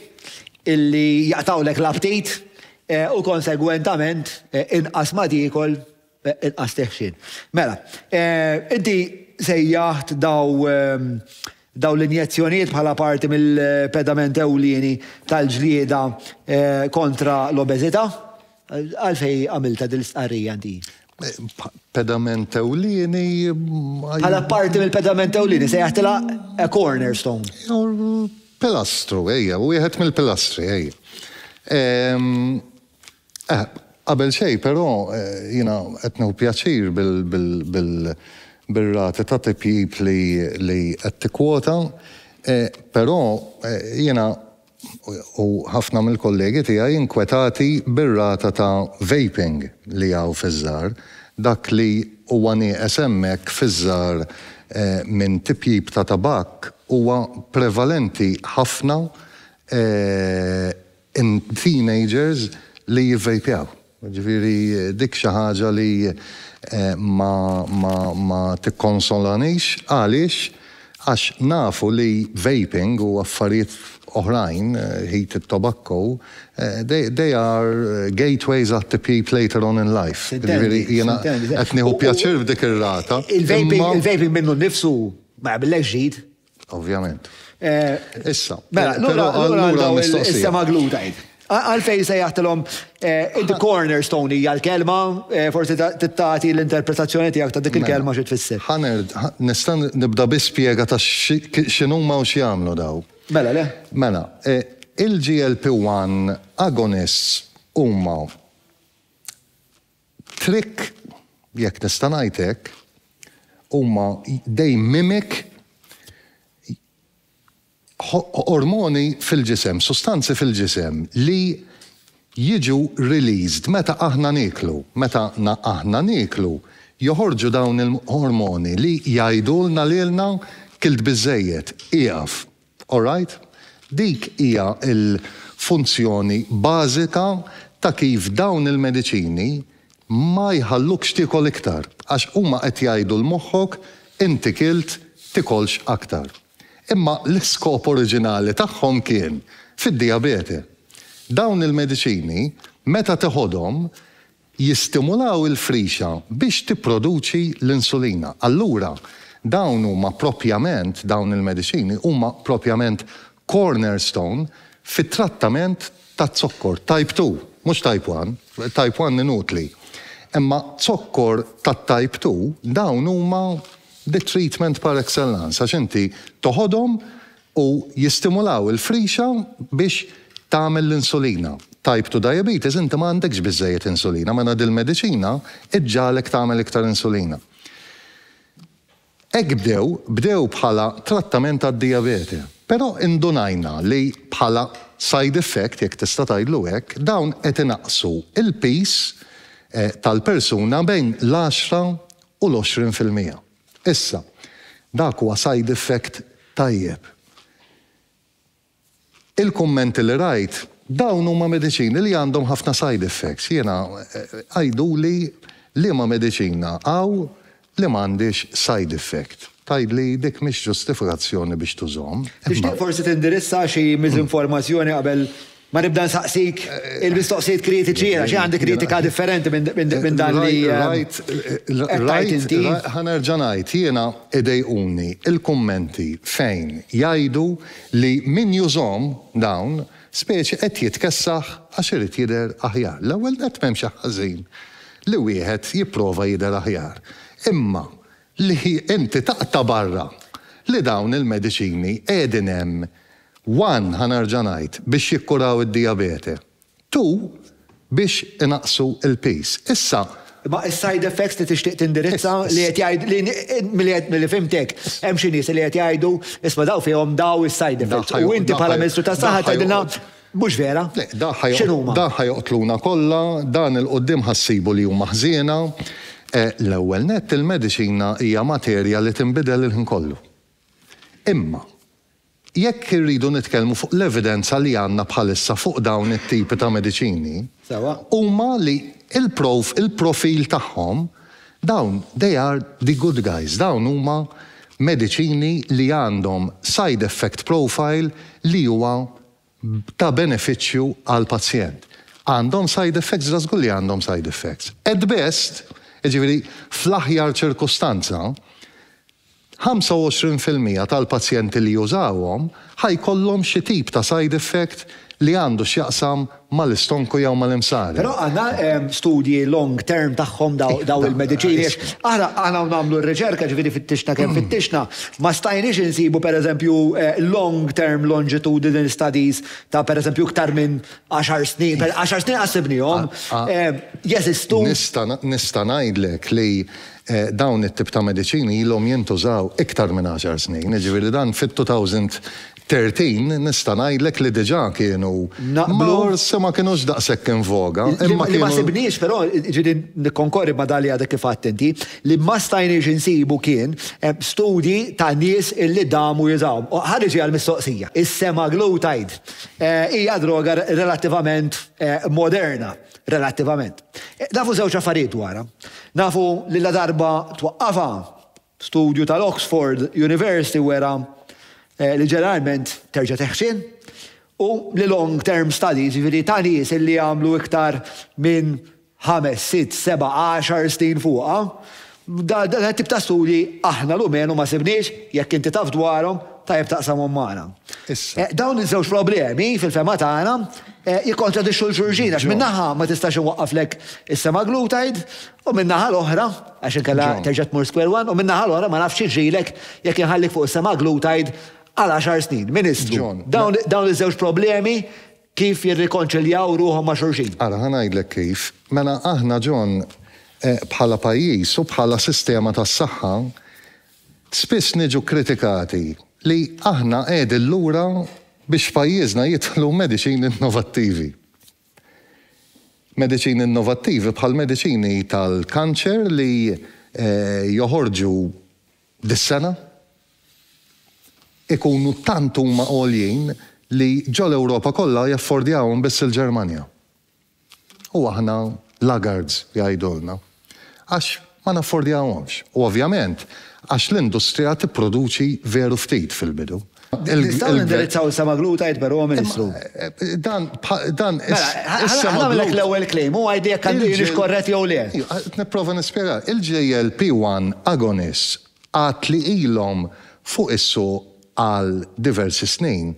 illi jaqtgħulek l-aptit u konsegwentament inqas ma tiekol Inqas teħxin. Mela, inti sejjaħt dawn l-injezzjonijiet bħala parti mill-pedament ewlieni tal-ġlieda kontra l-obeżità. Għalfejn għamiltha din l-istqarrija inti? Pedament ewlieni? Bħala parti mill-pedament ewlieni, sejjaħtilha a cornerstone. Jew pilastru, ejja, wieħed mill-pilastri, ejja. Qabel xejn, però, jiena qed nieħu pjaċir bir-rati ta' tipjip li qed tikkwota, però jiena u ħafna mill-kollegi tiegħi nkwetati bir-rata ta' vaping li hawn fiż-żgħar, dak li huwa nieqes hemmhekk fiż-żgħar minn tipjip ta' tabakk huwa prevalenti ħafna in teenagers li jivvejpjaw. Jiġifieri dik xi ħaġa li ma tikkonsolanix. Għaliex? Għax nafu li vaping u affarijiet oħrajn, heated tobacco, they are gateways għat-tipjip later on in life. Jiġifieri jiena qed nieħu pjaċir f'dik ir-rata imma. Il-vaping minnu nnifsu ma jagħmillekx ġid. Ovvjament. Eh, issa. Mela, lura għandhom mistoqsija. Issa maglu tajt. Għalfej se jaħtilhom eh, the cornerstone hija l-kelma, eh, forsi tittati l-interpretazzjoni tiegħek ta' dik il-kelma xi tfisser. Ħaner, nista' nibda bi spjega ta' x'inhuma u x'jagħmlu daw. Mela le? Mela, eh, il-GLP-1 agonists huma Trick, jekk nista' ngħid hekk, huma they mimic ormoni fil-ġisem, sustanzi fil-ġisem li jiġu released meta aħna nieklu. Meta aħna nieklu joħorġu dawn il-ormoni li jgħidulna lilna kilt biżżejjed, ieqaf. Alright? Dik hija l-funzjoni bażika ta' kif dawn il-mediċini ma jħallukx tiekol iktar, għax huma qed jgħidu 'l moħħok inti kilt tikolx aktar. Imma l-iskop oriġinali tagħhom kien fid-dijabete. Dawn il-mediċini meta teħodhom jistimulaw il-frixa biex tipproduċi l-insulina. Allura, dawn huma proprjament, dawn il-mediċini huma proprjament cornerstone fit-trattament ta' zokkor type two, mhux type one, type one inutli. Imma zokkor tat-type two, dawn huma the treatment par excellence għax inti toħodhom u jistimulaw il-frixa biex tagħmel l-insulina. Type two diabetes inti ma għandekx biżżejjed insulina mela dil-mediċina ġġagħlek tagħmel iktar insulina. Hekk bdew, bdew bħala trattament għad-dijabete, però indunajna li bħala side effect, jekk tista' tgħidlu hekk, dawn qed inaqqsu l-piż tal-persuna bejn l-għaxra u l-għoxrin fil-mija. Issa, dak huwa side effect tajjeb. Il-kummenti li rajt, dawn huma mediċini li għandhom ħafna side effects. Jiena, għiduli liema mediċina hawn li m'għandhiex side effect. Tgħidli dik mhix ġustifikazzjoni biex tużhom. Tixtieq forsi tindirizza xi miżinformazzjoni qabel Ma nibda nsaqsik il-mistoqsijiet kritiċi jiena, xi għandi kritika differenti minn dan li qed tgħid inti? Ħa nerġa' ngħid, jiena idejquni l-kummenti fejn jgħidu li min jużhom dawn speċi qed jitkessaħ għax irid jidher aħjar. L-ewwel nett m'hemm xi ħażin li wieħed jipprova jidher aħjar. Imma li inti taqta' barra li dawn il-mediċini qiegħdin hemm, one, ħa nerġa' ngħid, biex jikkuraw id-dijabete, two, biex inaqqsu l-piż. Issa. Imma is-side effects li tixtieq tindirizza, li qed jgħid, li milli milli fhimtek, hemm xi nies li qed jgħidu, isma' daw fihom daw is-side effects, u inti bħala Ministru tas-Saħħa tgħidilna, Mhux vera? X'inhuma? Dan ħa joqtluna kollha, dan 'il quddiem ħa ssibu li huma ħżiena. L-ewwel nett il-mediċina hija materja li tinbidel il-ħin kollu. Imma, jekk irridu nitkellmu fuq l-evidenza li għandna bħalissa fuq dawn it-tipi ta' mediċini, huma li il-prof, il-profil tagħhom, dawn they are the good guys, dawn huma mediċini li għandhom side effect profile li huwa ta' benefiċċju għall-pazjent. Għandhom side effects? Ġa żgur li għandhom side effects. At best, jiġifieri fl-aħjar ċirkustanza, 25 fil-mija tal-pazjenti li jużawhom ħa jkollhom xi tip ta' side effect li għandu x'jaqsam mal-istonku jew mal-imsari. Però għandna studji long term tagħhom dawn il-mediċini għax aħna hawn nagħmlu r-riċerka, ġifieri fittixna kemm fittixna, ma stajniex insibu pereżempju long term longitudinal studies ta' pereżempju iktar minn għaxar snin, għaxar snin qatt sibniehom. Jeżistu? Nista' ngħidlek li dawn it-tip ta' mediċini ilhom jintużaw iktar minn għaxar snin, jiġifieri dan fit-2000 Thirteen nista' ngħidlek li diġà kienu forsi ma kinux daqshekk in voga, imma kienu. Li ma sibniex però, jiġifieri nikkonkorri ma' dak li għadek kif għidt inti, li ma stajniex insibu kien studji ta' nies illi damu jużawhom. Ħa niġi għall-mistoqsija. Is-semaglutide hija droga relattivament moderna, relattivament. Nafu żewġ affarijiet dwarha. Nafu li ladarba twaqqafha Studju tal-Oxford University wera li ġeneralment terġa' teħxin u li long term studies, jiġifieri ta' nies li għamlu iktar minn ħames, sitt, seba', għaxar snin fuqha, dan it-tip ta' studji aħna l-umenu ma sibniex, jekk inti taf dwarhom, tajjeb taqsamhom magħna. Dawn iż-żewġ problemi, fil-fehma tagħna, jikkontradixxu lil xulxin għax minn naħa ma tistax inwaqqaflek is-semaglutide U min-naħa l-oħra, għax inkella terġa' tmur square one, u min-naħa l-oħra ma nafx jiġrilek jekk inħallik fuq is-sema' glued tgħid għal għaxar snin, Ministru, dawn iż-żewġ problemi kif jirrikonċiljaw ruħhom ma' xulxin? Ara, ħa ngħidlek kif. Mela aħna, John, bħala pajjiż u bħala sistema tas-saħħa, spiss niġu kkritikati li aħna qiegħdin lura biex f'pajjiżna jidħlu mediċini innovattivi. Mediċini innovattivi bħall-mediċini tal-kanċer li joħorġu dis-sena jkunu tant huma għoljin li ġol-Ewropa kollha jaffordjahom biss il-Ġermanja. U aħna laggards, jgħidulna. Għax ma naffordjahomx u ovvjament għax l-industrija tipproduċi veru ftit fil-bidu. Nistgħu nindirizzaw issa Magħlud tgħid però, Ministru? Dan, dan Mela, ħa nagħmellek l-ewwel claim u għidli jekk għandix korrett jew le. Qed nipprova nispjega. Il-GLP-1 agonists għad li ilhom fuq is-suq għal diversi snin,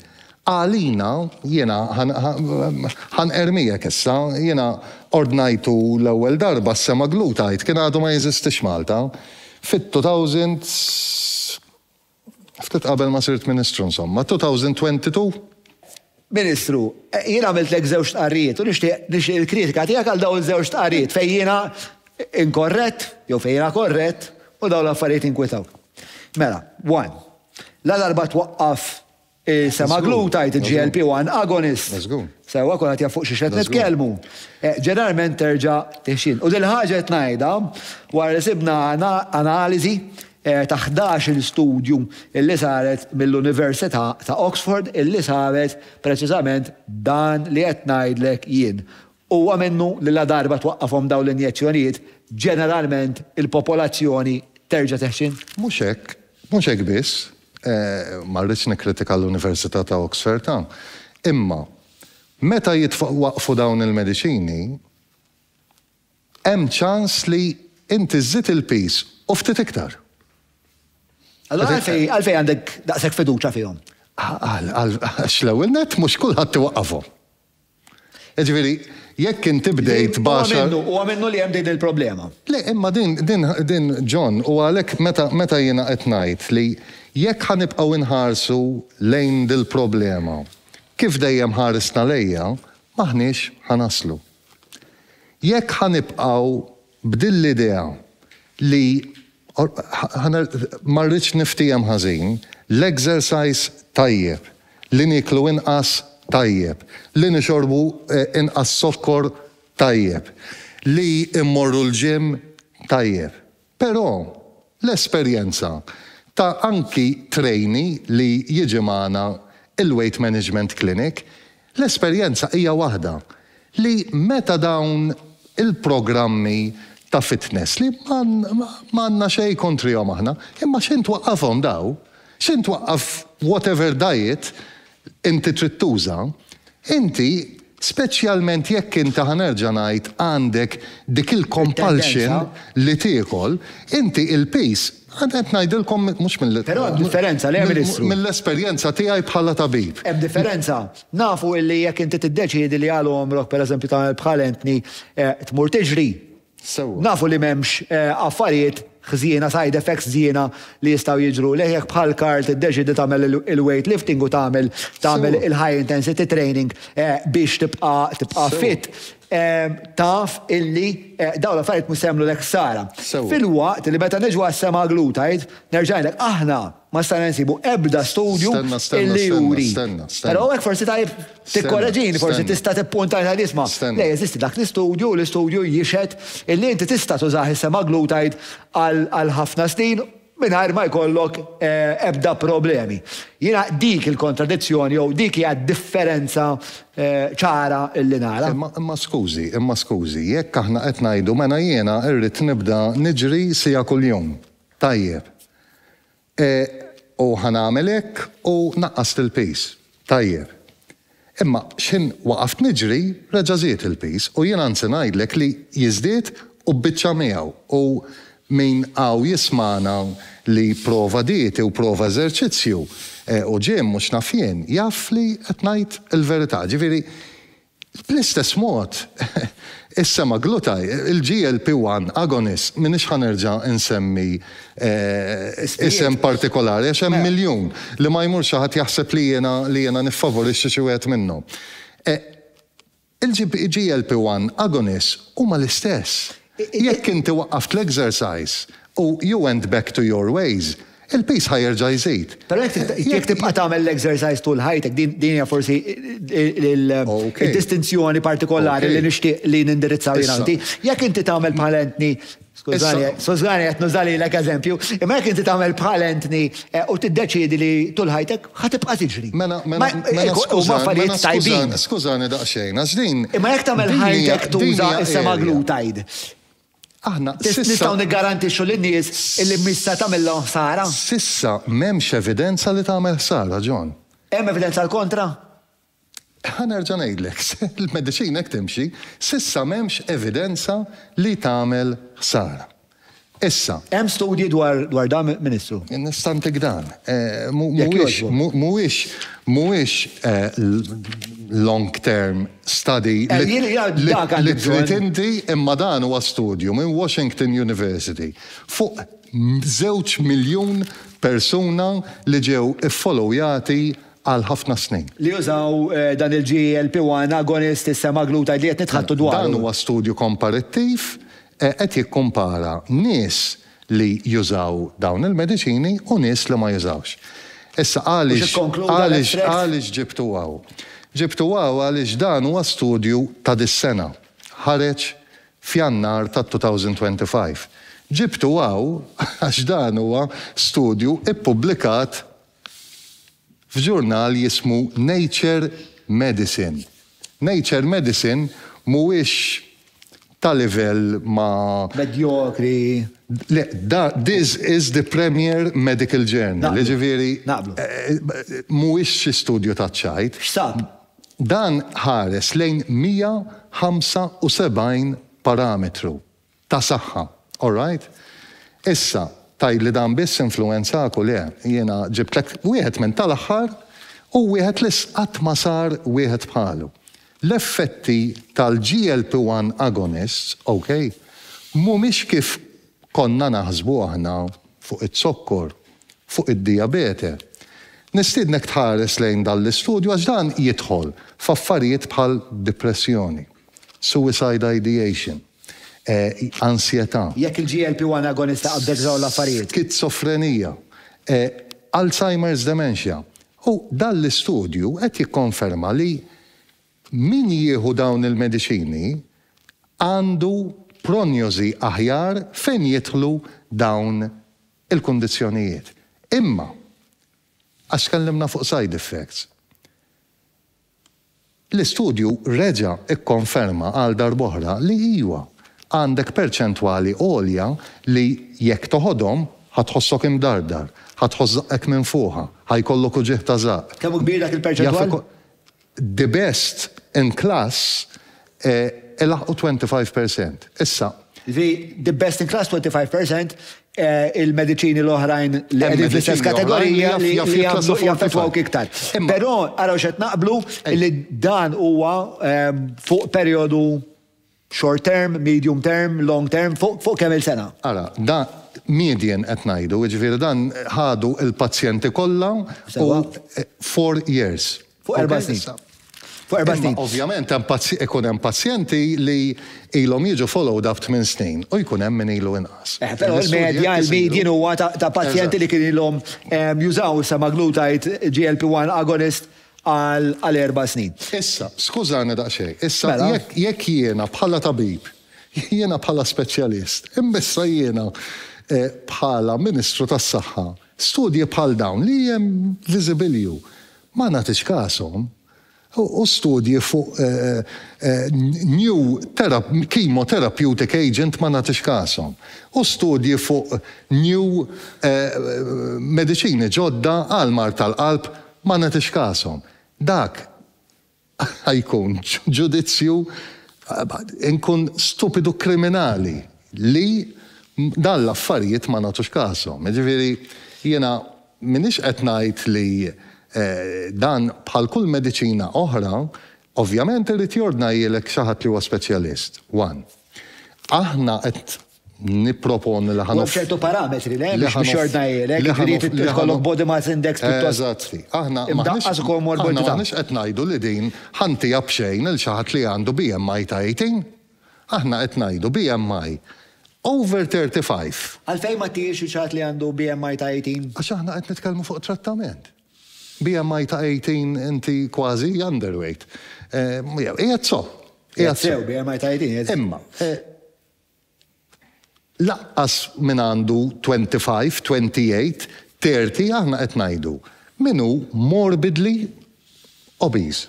għalina, jiena ħa nqerr miegħek issa, jiena ordnajtu l-ewwel darba s-sema glu tgħid kien għadu ma jeżistix Malta, fit-two thousand, ftit qabel ma sirt Ministru insomma, two thousand twenty two? Ministru, jien għamiltlek żewġ stqarrijiet u nixtieq nixtieq il-kritika tiegħek għal dawn iż-żewġ stqarrijiet fejn jiena inkorrett jew fejn jiena korrett u dawn l-affarijiet jinkwitawk. Mela, one, la darba twaqqaf is-semaglutide, il-GLP one agonist, sewwa kulħadd jaf fuq xiex qed nitkellmu, ġeneralment terġa' tixjien. U din il-ħaġa qed ngħidha wara li sibna analiżi ta' ħdax-il studju li saret mill-Università ta' Oxford illi saret preċiżament dan li qed ngħidlek jien. Huwa minnu li ladarba twaqqafhom dawn l-injezzjonijiet, ġeneralment il-popolazzjoni terġa' teħxin? Mhux hekk. Mhux hekk biss. Ma rridx nikkritika l-Università ta' Oxford hawn. Imma meta jitwaqqfu dawn il-mediċini, hemm ċans li inti żżid il-piż u ftit iktar. Allura għalfejn għalfejn għandek daqshekk fiduċja fihom? Għal għal għax l-ewwel nett mhux kulħadd iwaqqafhom. Jiġifieri jekk inti bdejt b'għaxar. Huwa minnu li hemm din il-problema. Le, imma din din din John, u għalhekk meta meta jiena qed ngħid li jekk ħa nibqgħu nħarsu lejn dil-problema kif dejjem ħarisna lejha, m'aħniex ħa naslu. Jekk ħa nibqgħu b'din l-idea li ma rridx niftiehem ħażin, l-exercise tajjeb, li nieklu inqas tajjeb, li nixorbu inqas zokkor tajjeb, li mmorru l-gym tajjeb. Però, l-esperjenza ta' anki trainee li jiġi magħna il-Weight Management Clinic, l-esperjenza hija waħda, li meta dawn il-programmi ta' fitness li ma għandna xejn kontrihom aħna, imma x'intwaqqafhom daw, x'intwaqqaf whatever diet, inti trid tuża, inti, speċjalment jekk inti, ħa nerġa' ngħid, għandek dik il-compulsion li tiekol, inti il-piż, qed ngħidilkom mhux mill-, Però hemm differenza, le, Ministru? mill-esperjenza tiegħi bħala tabib. Hemm differenza. Nafu li jekk inti tiddeċiedi li għal għomrok, pereżempju, tagħmel bħal Anthony, tmur tiġri, sewwa. Nafu li m'hemmx affarijiet ħżiena, side effects ħżiena li jistgħu jiġrulek jekk bħal Carl tiddeċiedi tagħmel il-weightlifting u tagħmel tagħmel il-high intensity training biex tibqa' tibqa' fit, taf illi dawn l-affarijiet mhux se jagħmlulek ħsara. Filwaqt li meta niġu għas-semaglutide, nerġa' ngħidlek, aħna Ma stajna nsibu ebda studju li juri. Però hawnhekk forsi tajjeb tikkoreġini, forsi tista' tippuntajna l-isma. Le, jeżisti dak l-istudju u l-istudju jixhed illi inti tista' tużah is-semaglutide għal ħafna snin mingħajr ma jkollok ebda problemi. Jiena dik il-kontradizzjoni jew dik hija d-differenza ċara li nara. Imma skużi, imma skużi, jekk aħna qed ngħidu mela jiena rrid nibda niġri siegħa kuljum, Tajjeb. E, u ħa nagħmel hekk u naqqast il-piż. Tajjeb. Imma x'ħin waqaft niġri, reġa' żied il-piż u jien anzi ngħidlek li jiżdied u bbiċċa miegħu u min hawn jismagħna li prova dieti u prova eżerċizzju u gym u x'naf jien, jaf li qed ngħid il-verità. Ġifieri, Bl-istess mod, is-semaglutide, il-GLP-1 agonist, m'iniex ħa nerġa' insemmi isem partikolari għax hemm miljun, li ma jmur xi ħadd jaħseb li jiena li jiena niffavorixxi xi wieħed minnhom. Il-GLP-1 agonists huma l-istess. Jekk inti waqqaft l-exercise u you went back to your ways, il-piż ħa jerġa' jżid. Però jekk tibqa' tagħmel l-exercise tul ħajtek, din hija forsi d-distinzjoni partikolari li nixtieq li nindirizzaw jien u inti. Jekk inti tagħmel bħal Anthony, skużani, skużani qed nuża lilek eżempju, imma jekk inti tagħmel bħal Anthony u tiddeċiedi li tul ħajtek, Ħa tibqa' tiġri. Mela, mela, mela skużani, skużani, skużani daqsxejn, għax din. Imma jekk tagħmel ħajtek tuża s-semaglutide, aħna nistgħu niggarantixxu lin-nies illi mhix se tagħmilhom ħsara? S'issa m'hemmx evidenza li tagħmel ħsara, John. Hemm evidenza l-kontra? Ħa nerġa' ngħidlek, il-mediċina hekk timxi, s'issa m'hemmx evidenza li tagħmel ħsara. Issa. Hemm studji dwar dan, Ministru? Nista' ntik dan. Mhuwiex mhuwiex long-term study li trid inti, imma dan huwa studju minn Washington University fuq żewġ miljun persuna li ġew iffolowjati għal ħafna snin. Li jużaw dan il-GLP-1 agonist is-semaglutide li qed nitħaddtu dwaru. Dan huwa studju komparittiv, qed jikkumpara nies li jużaw dawn il-mediċini u nies li ma jużawx. Issa għaliex għaliex ġibtu hawn? Ġibtu hawn għaliex dan huwa studju ta' dis-sena, ħareġ f'Jannar tat-2025. Ġibtu hawn għax dan huwa studju ppubblikat f'ġurnal jismu Nature Medicine. Nature Medicine mhuwiex ta' livell ma'. Medjokri. Le, da, this is the premier medical journal, jiġifieri. Naqblu. Mhuwiex xi studju taċ-ċajt. X'sab? Dan ħares lejn 175 parametru. Ta' saħħa. All right. Issa, tgħidli dan biss influwenzak u le. Jiena ġibtlek wieħed minn tal-aħħar u wieħed li qatt ma sar wieħed bħalu. L-effetti tal-GLP-1 agonists, ok, mhumiex kif konna naħsbu aħna fuq iz-zokkor, fuq id-dijabete. Nistiednek tħares lejn dan l-istudju għax dan jidħol f'affarijiet bħal dipressjoni, suicide ideation. Ansjetà. Jekk il-GLP-1 agonist taqabdek f'dawn l-affarijiet. Skizofrenija. Alzheimer's dementia. U dan l-istudju qed jikkonferma li min jieħu dawn il-mediċini għandu pronjosi aħjar fejn jidħlu dawn il-kundizzjonijiet. Imma, għax tkellimna fuq side effects, L-istudju reġa' kkonferma għal darb'oħra li iwa, għandek perċentwali għolja li jekk toħodhom, ħa tħossok imdardar, ħa tħoss żaqqek minn fuqha, ħa jkollok uġigħ ta' żaqq. Kemm hu kbir dak il-perċentwal? The best in class E laħqu 25 per cent. Issa. Zi, the best in class 25 per cent, il-mediċini l-oħrajn li qegħdin fl-istess kategorija li jaffettwawk iktar. Però araw x'qed naqblu li dan huwa fuq perjodu short term, medium term, long term, fuq kemm il-sena. Ara, da median qed ngħidu, jiġifieri dan ħadu l-pazjenti kollha u four years. Fuq erba' snin. Fuq erba' snin. Ovvjament ikun hemm pazjenti li ilhom jiġu followed up tmien snin u jkun hemm min ilu inqas. Eh, però l-medja, il-median huwa ta' pazjenti li kien ilhom jużaw is-semaglutide GLP-1 agonist għal erba' snin. Issa, skużani daqsxejn, issa jekk jiena bħala tabib, jiena bħala speċjalist, imma issa jiena bħala Ministru tas-Saħħa, studji bħal dawn li hemm viżibilju ma nagħtitx kashom, u studji fuq new chemotherapeutic agent ma nagħtitx kashom, u studji fuq new mediċini ġodda għall-mard tal-qalb ma nagħtitx kashom. Dak Ħa jkun ġudizzju, inkun stupidu kriminali li dawn l-affarijiet ma nagħtux każhom. Jiġifieri jiena m'iniex qed ngħid li dan bħal kull mediċina oħra, ovvjament irid jordnajhielek xi ħadd li huwa speċjalist, one. Aħna qed Nipproponi li ħa nof. U hemm ċertu parametri, le, biex biex jordnajlek, li ħa nof. Li jkollok body mass index pjuttost. Eżatt. Aħna. Imdaqqas u komorbidità. Aħna maħniex qed ngħidu li din ħa ntiha b'xejn lil xi ħadd li għandu BMI ta' 18. Aħna qed ngħidu BMI over 35. Għalfejn ma tihiex lil xi ħadd li għandu BMI ta' 18? Għax aħna qed nitkellmu fuq trattament. BMI ta' 18 inti kważi underweight. Qiegħed sew. Qiegħed sew, BMI ta' 18. Imma. Lanqas min għandu 25, 28, 30 aħna qed ngħidu min hu morbidly obese.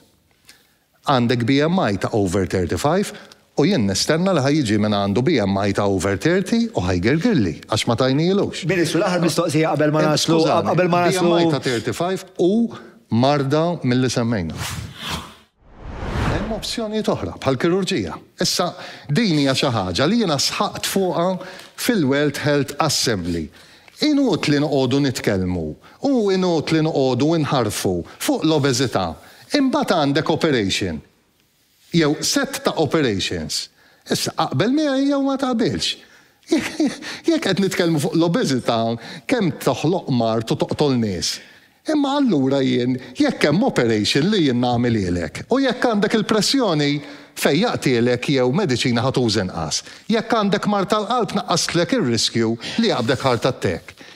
Għandek BMI ta' over 35 u jien nistenna li ħa jiġi min għandu BMI ta' over 30 u ħa jgirgirli għax ma tajnielux. Ministru, l-aħħar mistoqsija qabel ma naslu, qabel ma naslu. BMI ta' 35 hu marda mill-li semmejna. Hemm opzjonijiet oħra, bħall-kirurġija. Issa, din hija xi ħaġa li jiena sħaqt fuqha fil-World Health Assembly. Inutli noqogħdu nitkellmu u inutli noqogħdu inħarrfu fuq l-obeżità, imbagħad għandek operation, jew sett ta' operations. Issa, aqbel miegħi jew ma taqbilx, Jekk qed nitkellmu fuq l-obeżità, kemm toħloq mard u toqtol nies. Imma allura jien jekk hemm operation li jien nagħmilhielek? U jekk għandek il-pressjoni, fejjaqtielek jew mediċina ħa tuża inqas. Jekk għandek mard tal-qalb naqqastlek ir-riskju li jaqbdek heart attack.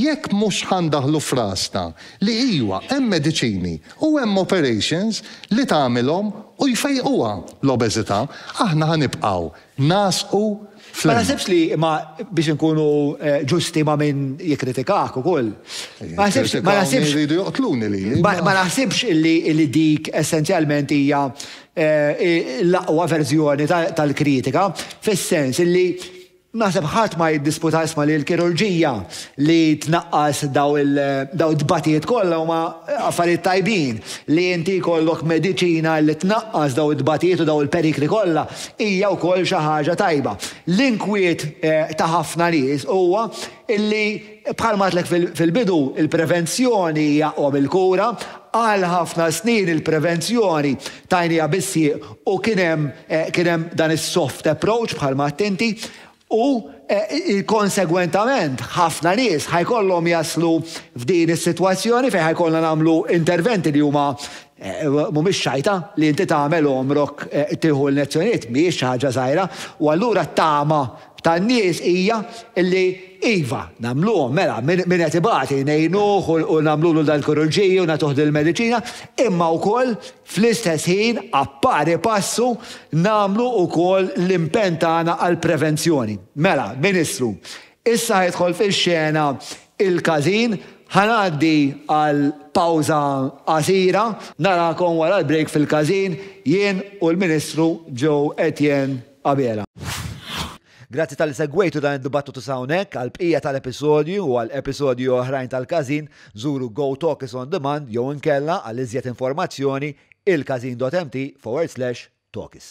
Jekk mhux ħa ndaħħlu f'rasna li iwa hemm mediċini u hemm operations li tagħmilhom u jfejquha l-obeżità, aħna ħa nibqgħu ngħasqu fl-ilma. Ma naħsibx li, ma biex inkunu ġusti ma' min jikkritikak ukoll, ma naħsibx, ma naħsibx. Jikkritikawni jridu joqtluni lili. Ma naħsibx li dik essenzjalment hija l-aqwa verżjoni tal-kritika, fis-sens li Naħseb ħadd ma jiddisputa isma' li l-kirurġija li tnaqqas dawn it-tbatijiet kollha huma affarijiet tajbin. Li inti jkollok mediċina li tnaqqas dawn it-tbatijiet u dawn il-perikli kollha hija wkoll xi ħaġa tajba. L-inkwiet ta' ħafna nies huwa illi, bħalma għedtlek fil-bidu, il-prevenzjoni hija omm il-kura, għal ħafna snin il-prevenzjoni tajnieha bis-sieq u kien hemm kien hemm dan is-soft approach bħalma għedt inti u konsegwentament ħafna nies ħa jkollhom jaslu f'din is-sitwazzjoni fejn ħa jkollna nagħmlu interventi li huma Mhumiex xajta, li inti tagħmel għomrok tieħu l-lezzjonijiet mhijiex xi ħaġa żgħira, u allura t-tama tan-nies hija li iva, nagħmluhom, mela, min qed ibati ngħinuh u nagħmlulu dal-kirurġiji u nagħtuh dil-mediċina, imma wkoll fl-istess ħin, appari passu, nagħmlu wkoll l-impenn tagħna għall-prevenzjoni. Mela, Ministru, Issa jidħol fix-xena il-każin. Ħa ngħaddi għal pawża qasira. Narakom wara l-break fil-każin, jien u l-Ministru Joe Etienne Abela. Grazzi talli segwejtu dan id-dibattitu sa hawnhekk. Għall-bqija tal-episodju u għal episodji oħrajn tal-każin, żuru GoTalk is on demand jew inkella għal iżjed informazzjoni ilkażin.mt/talkis.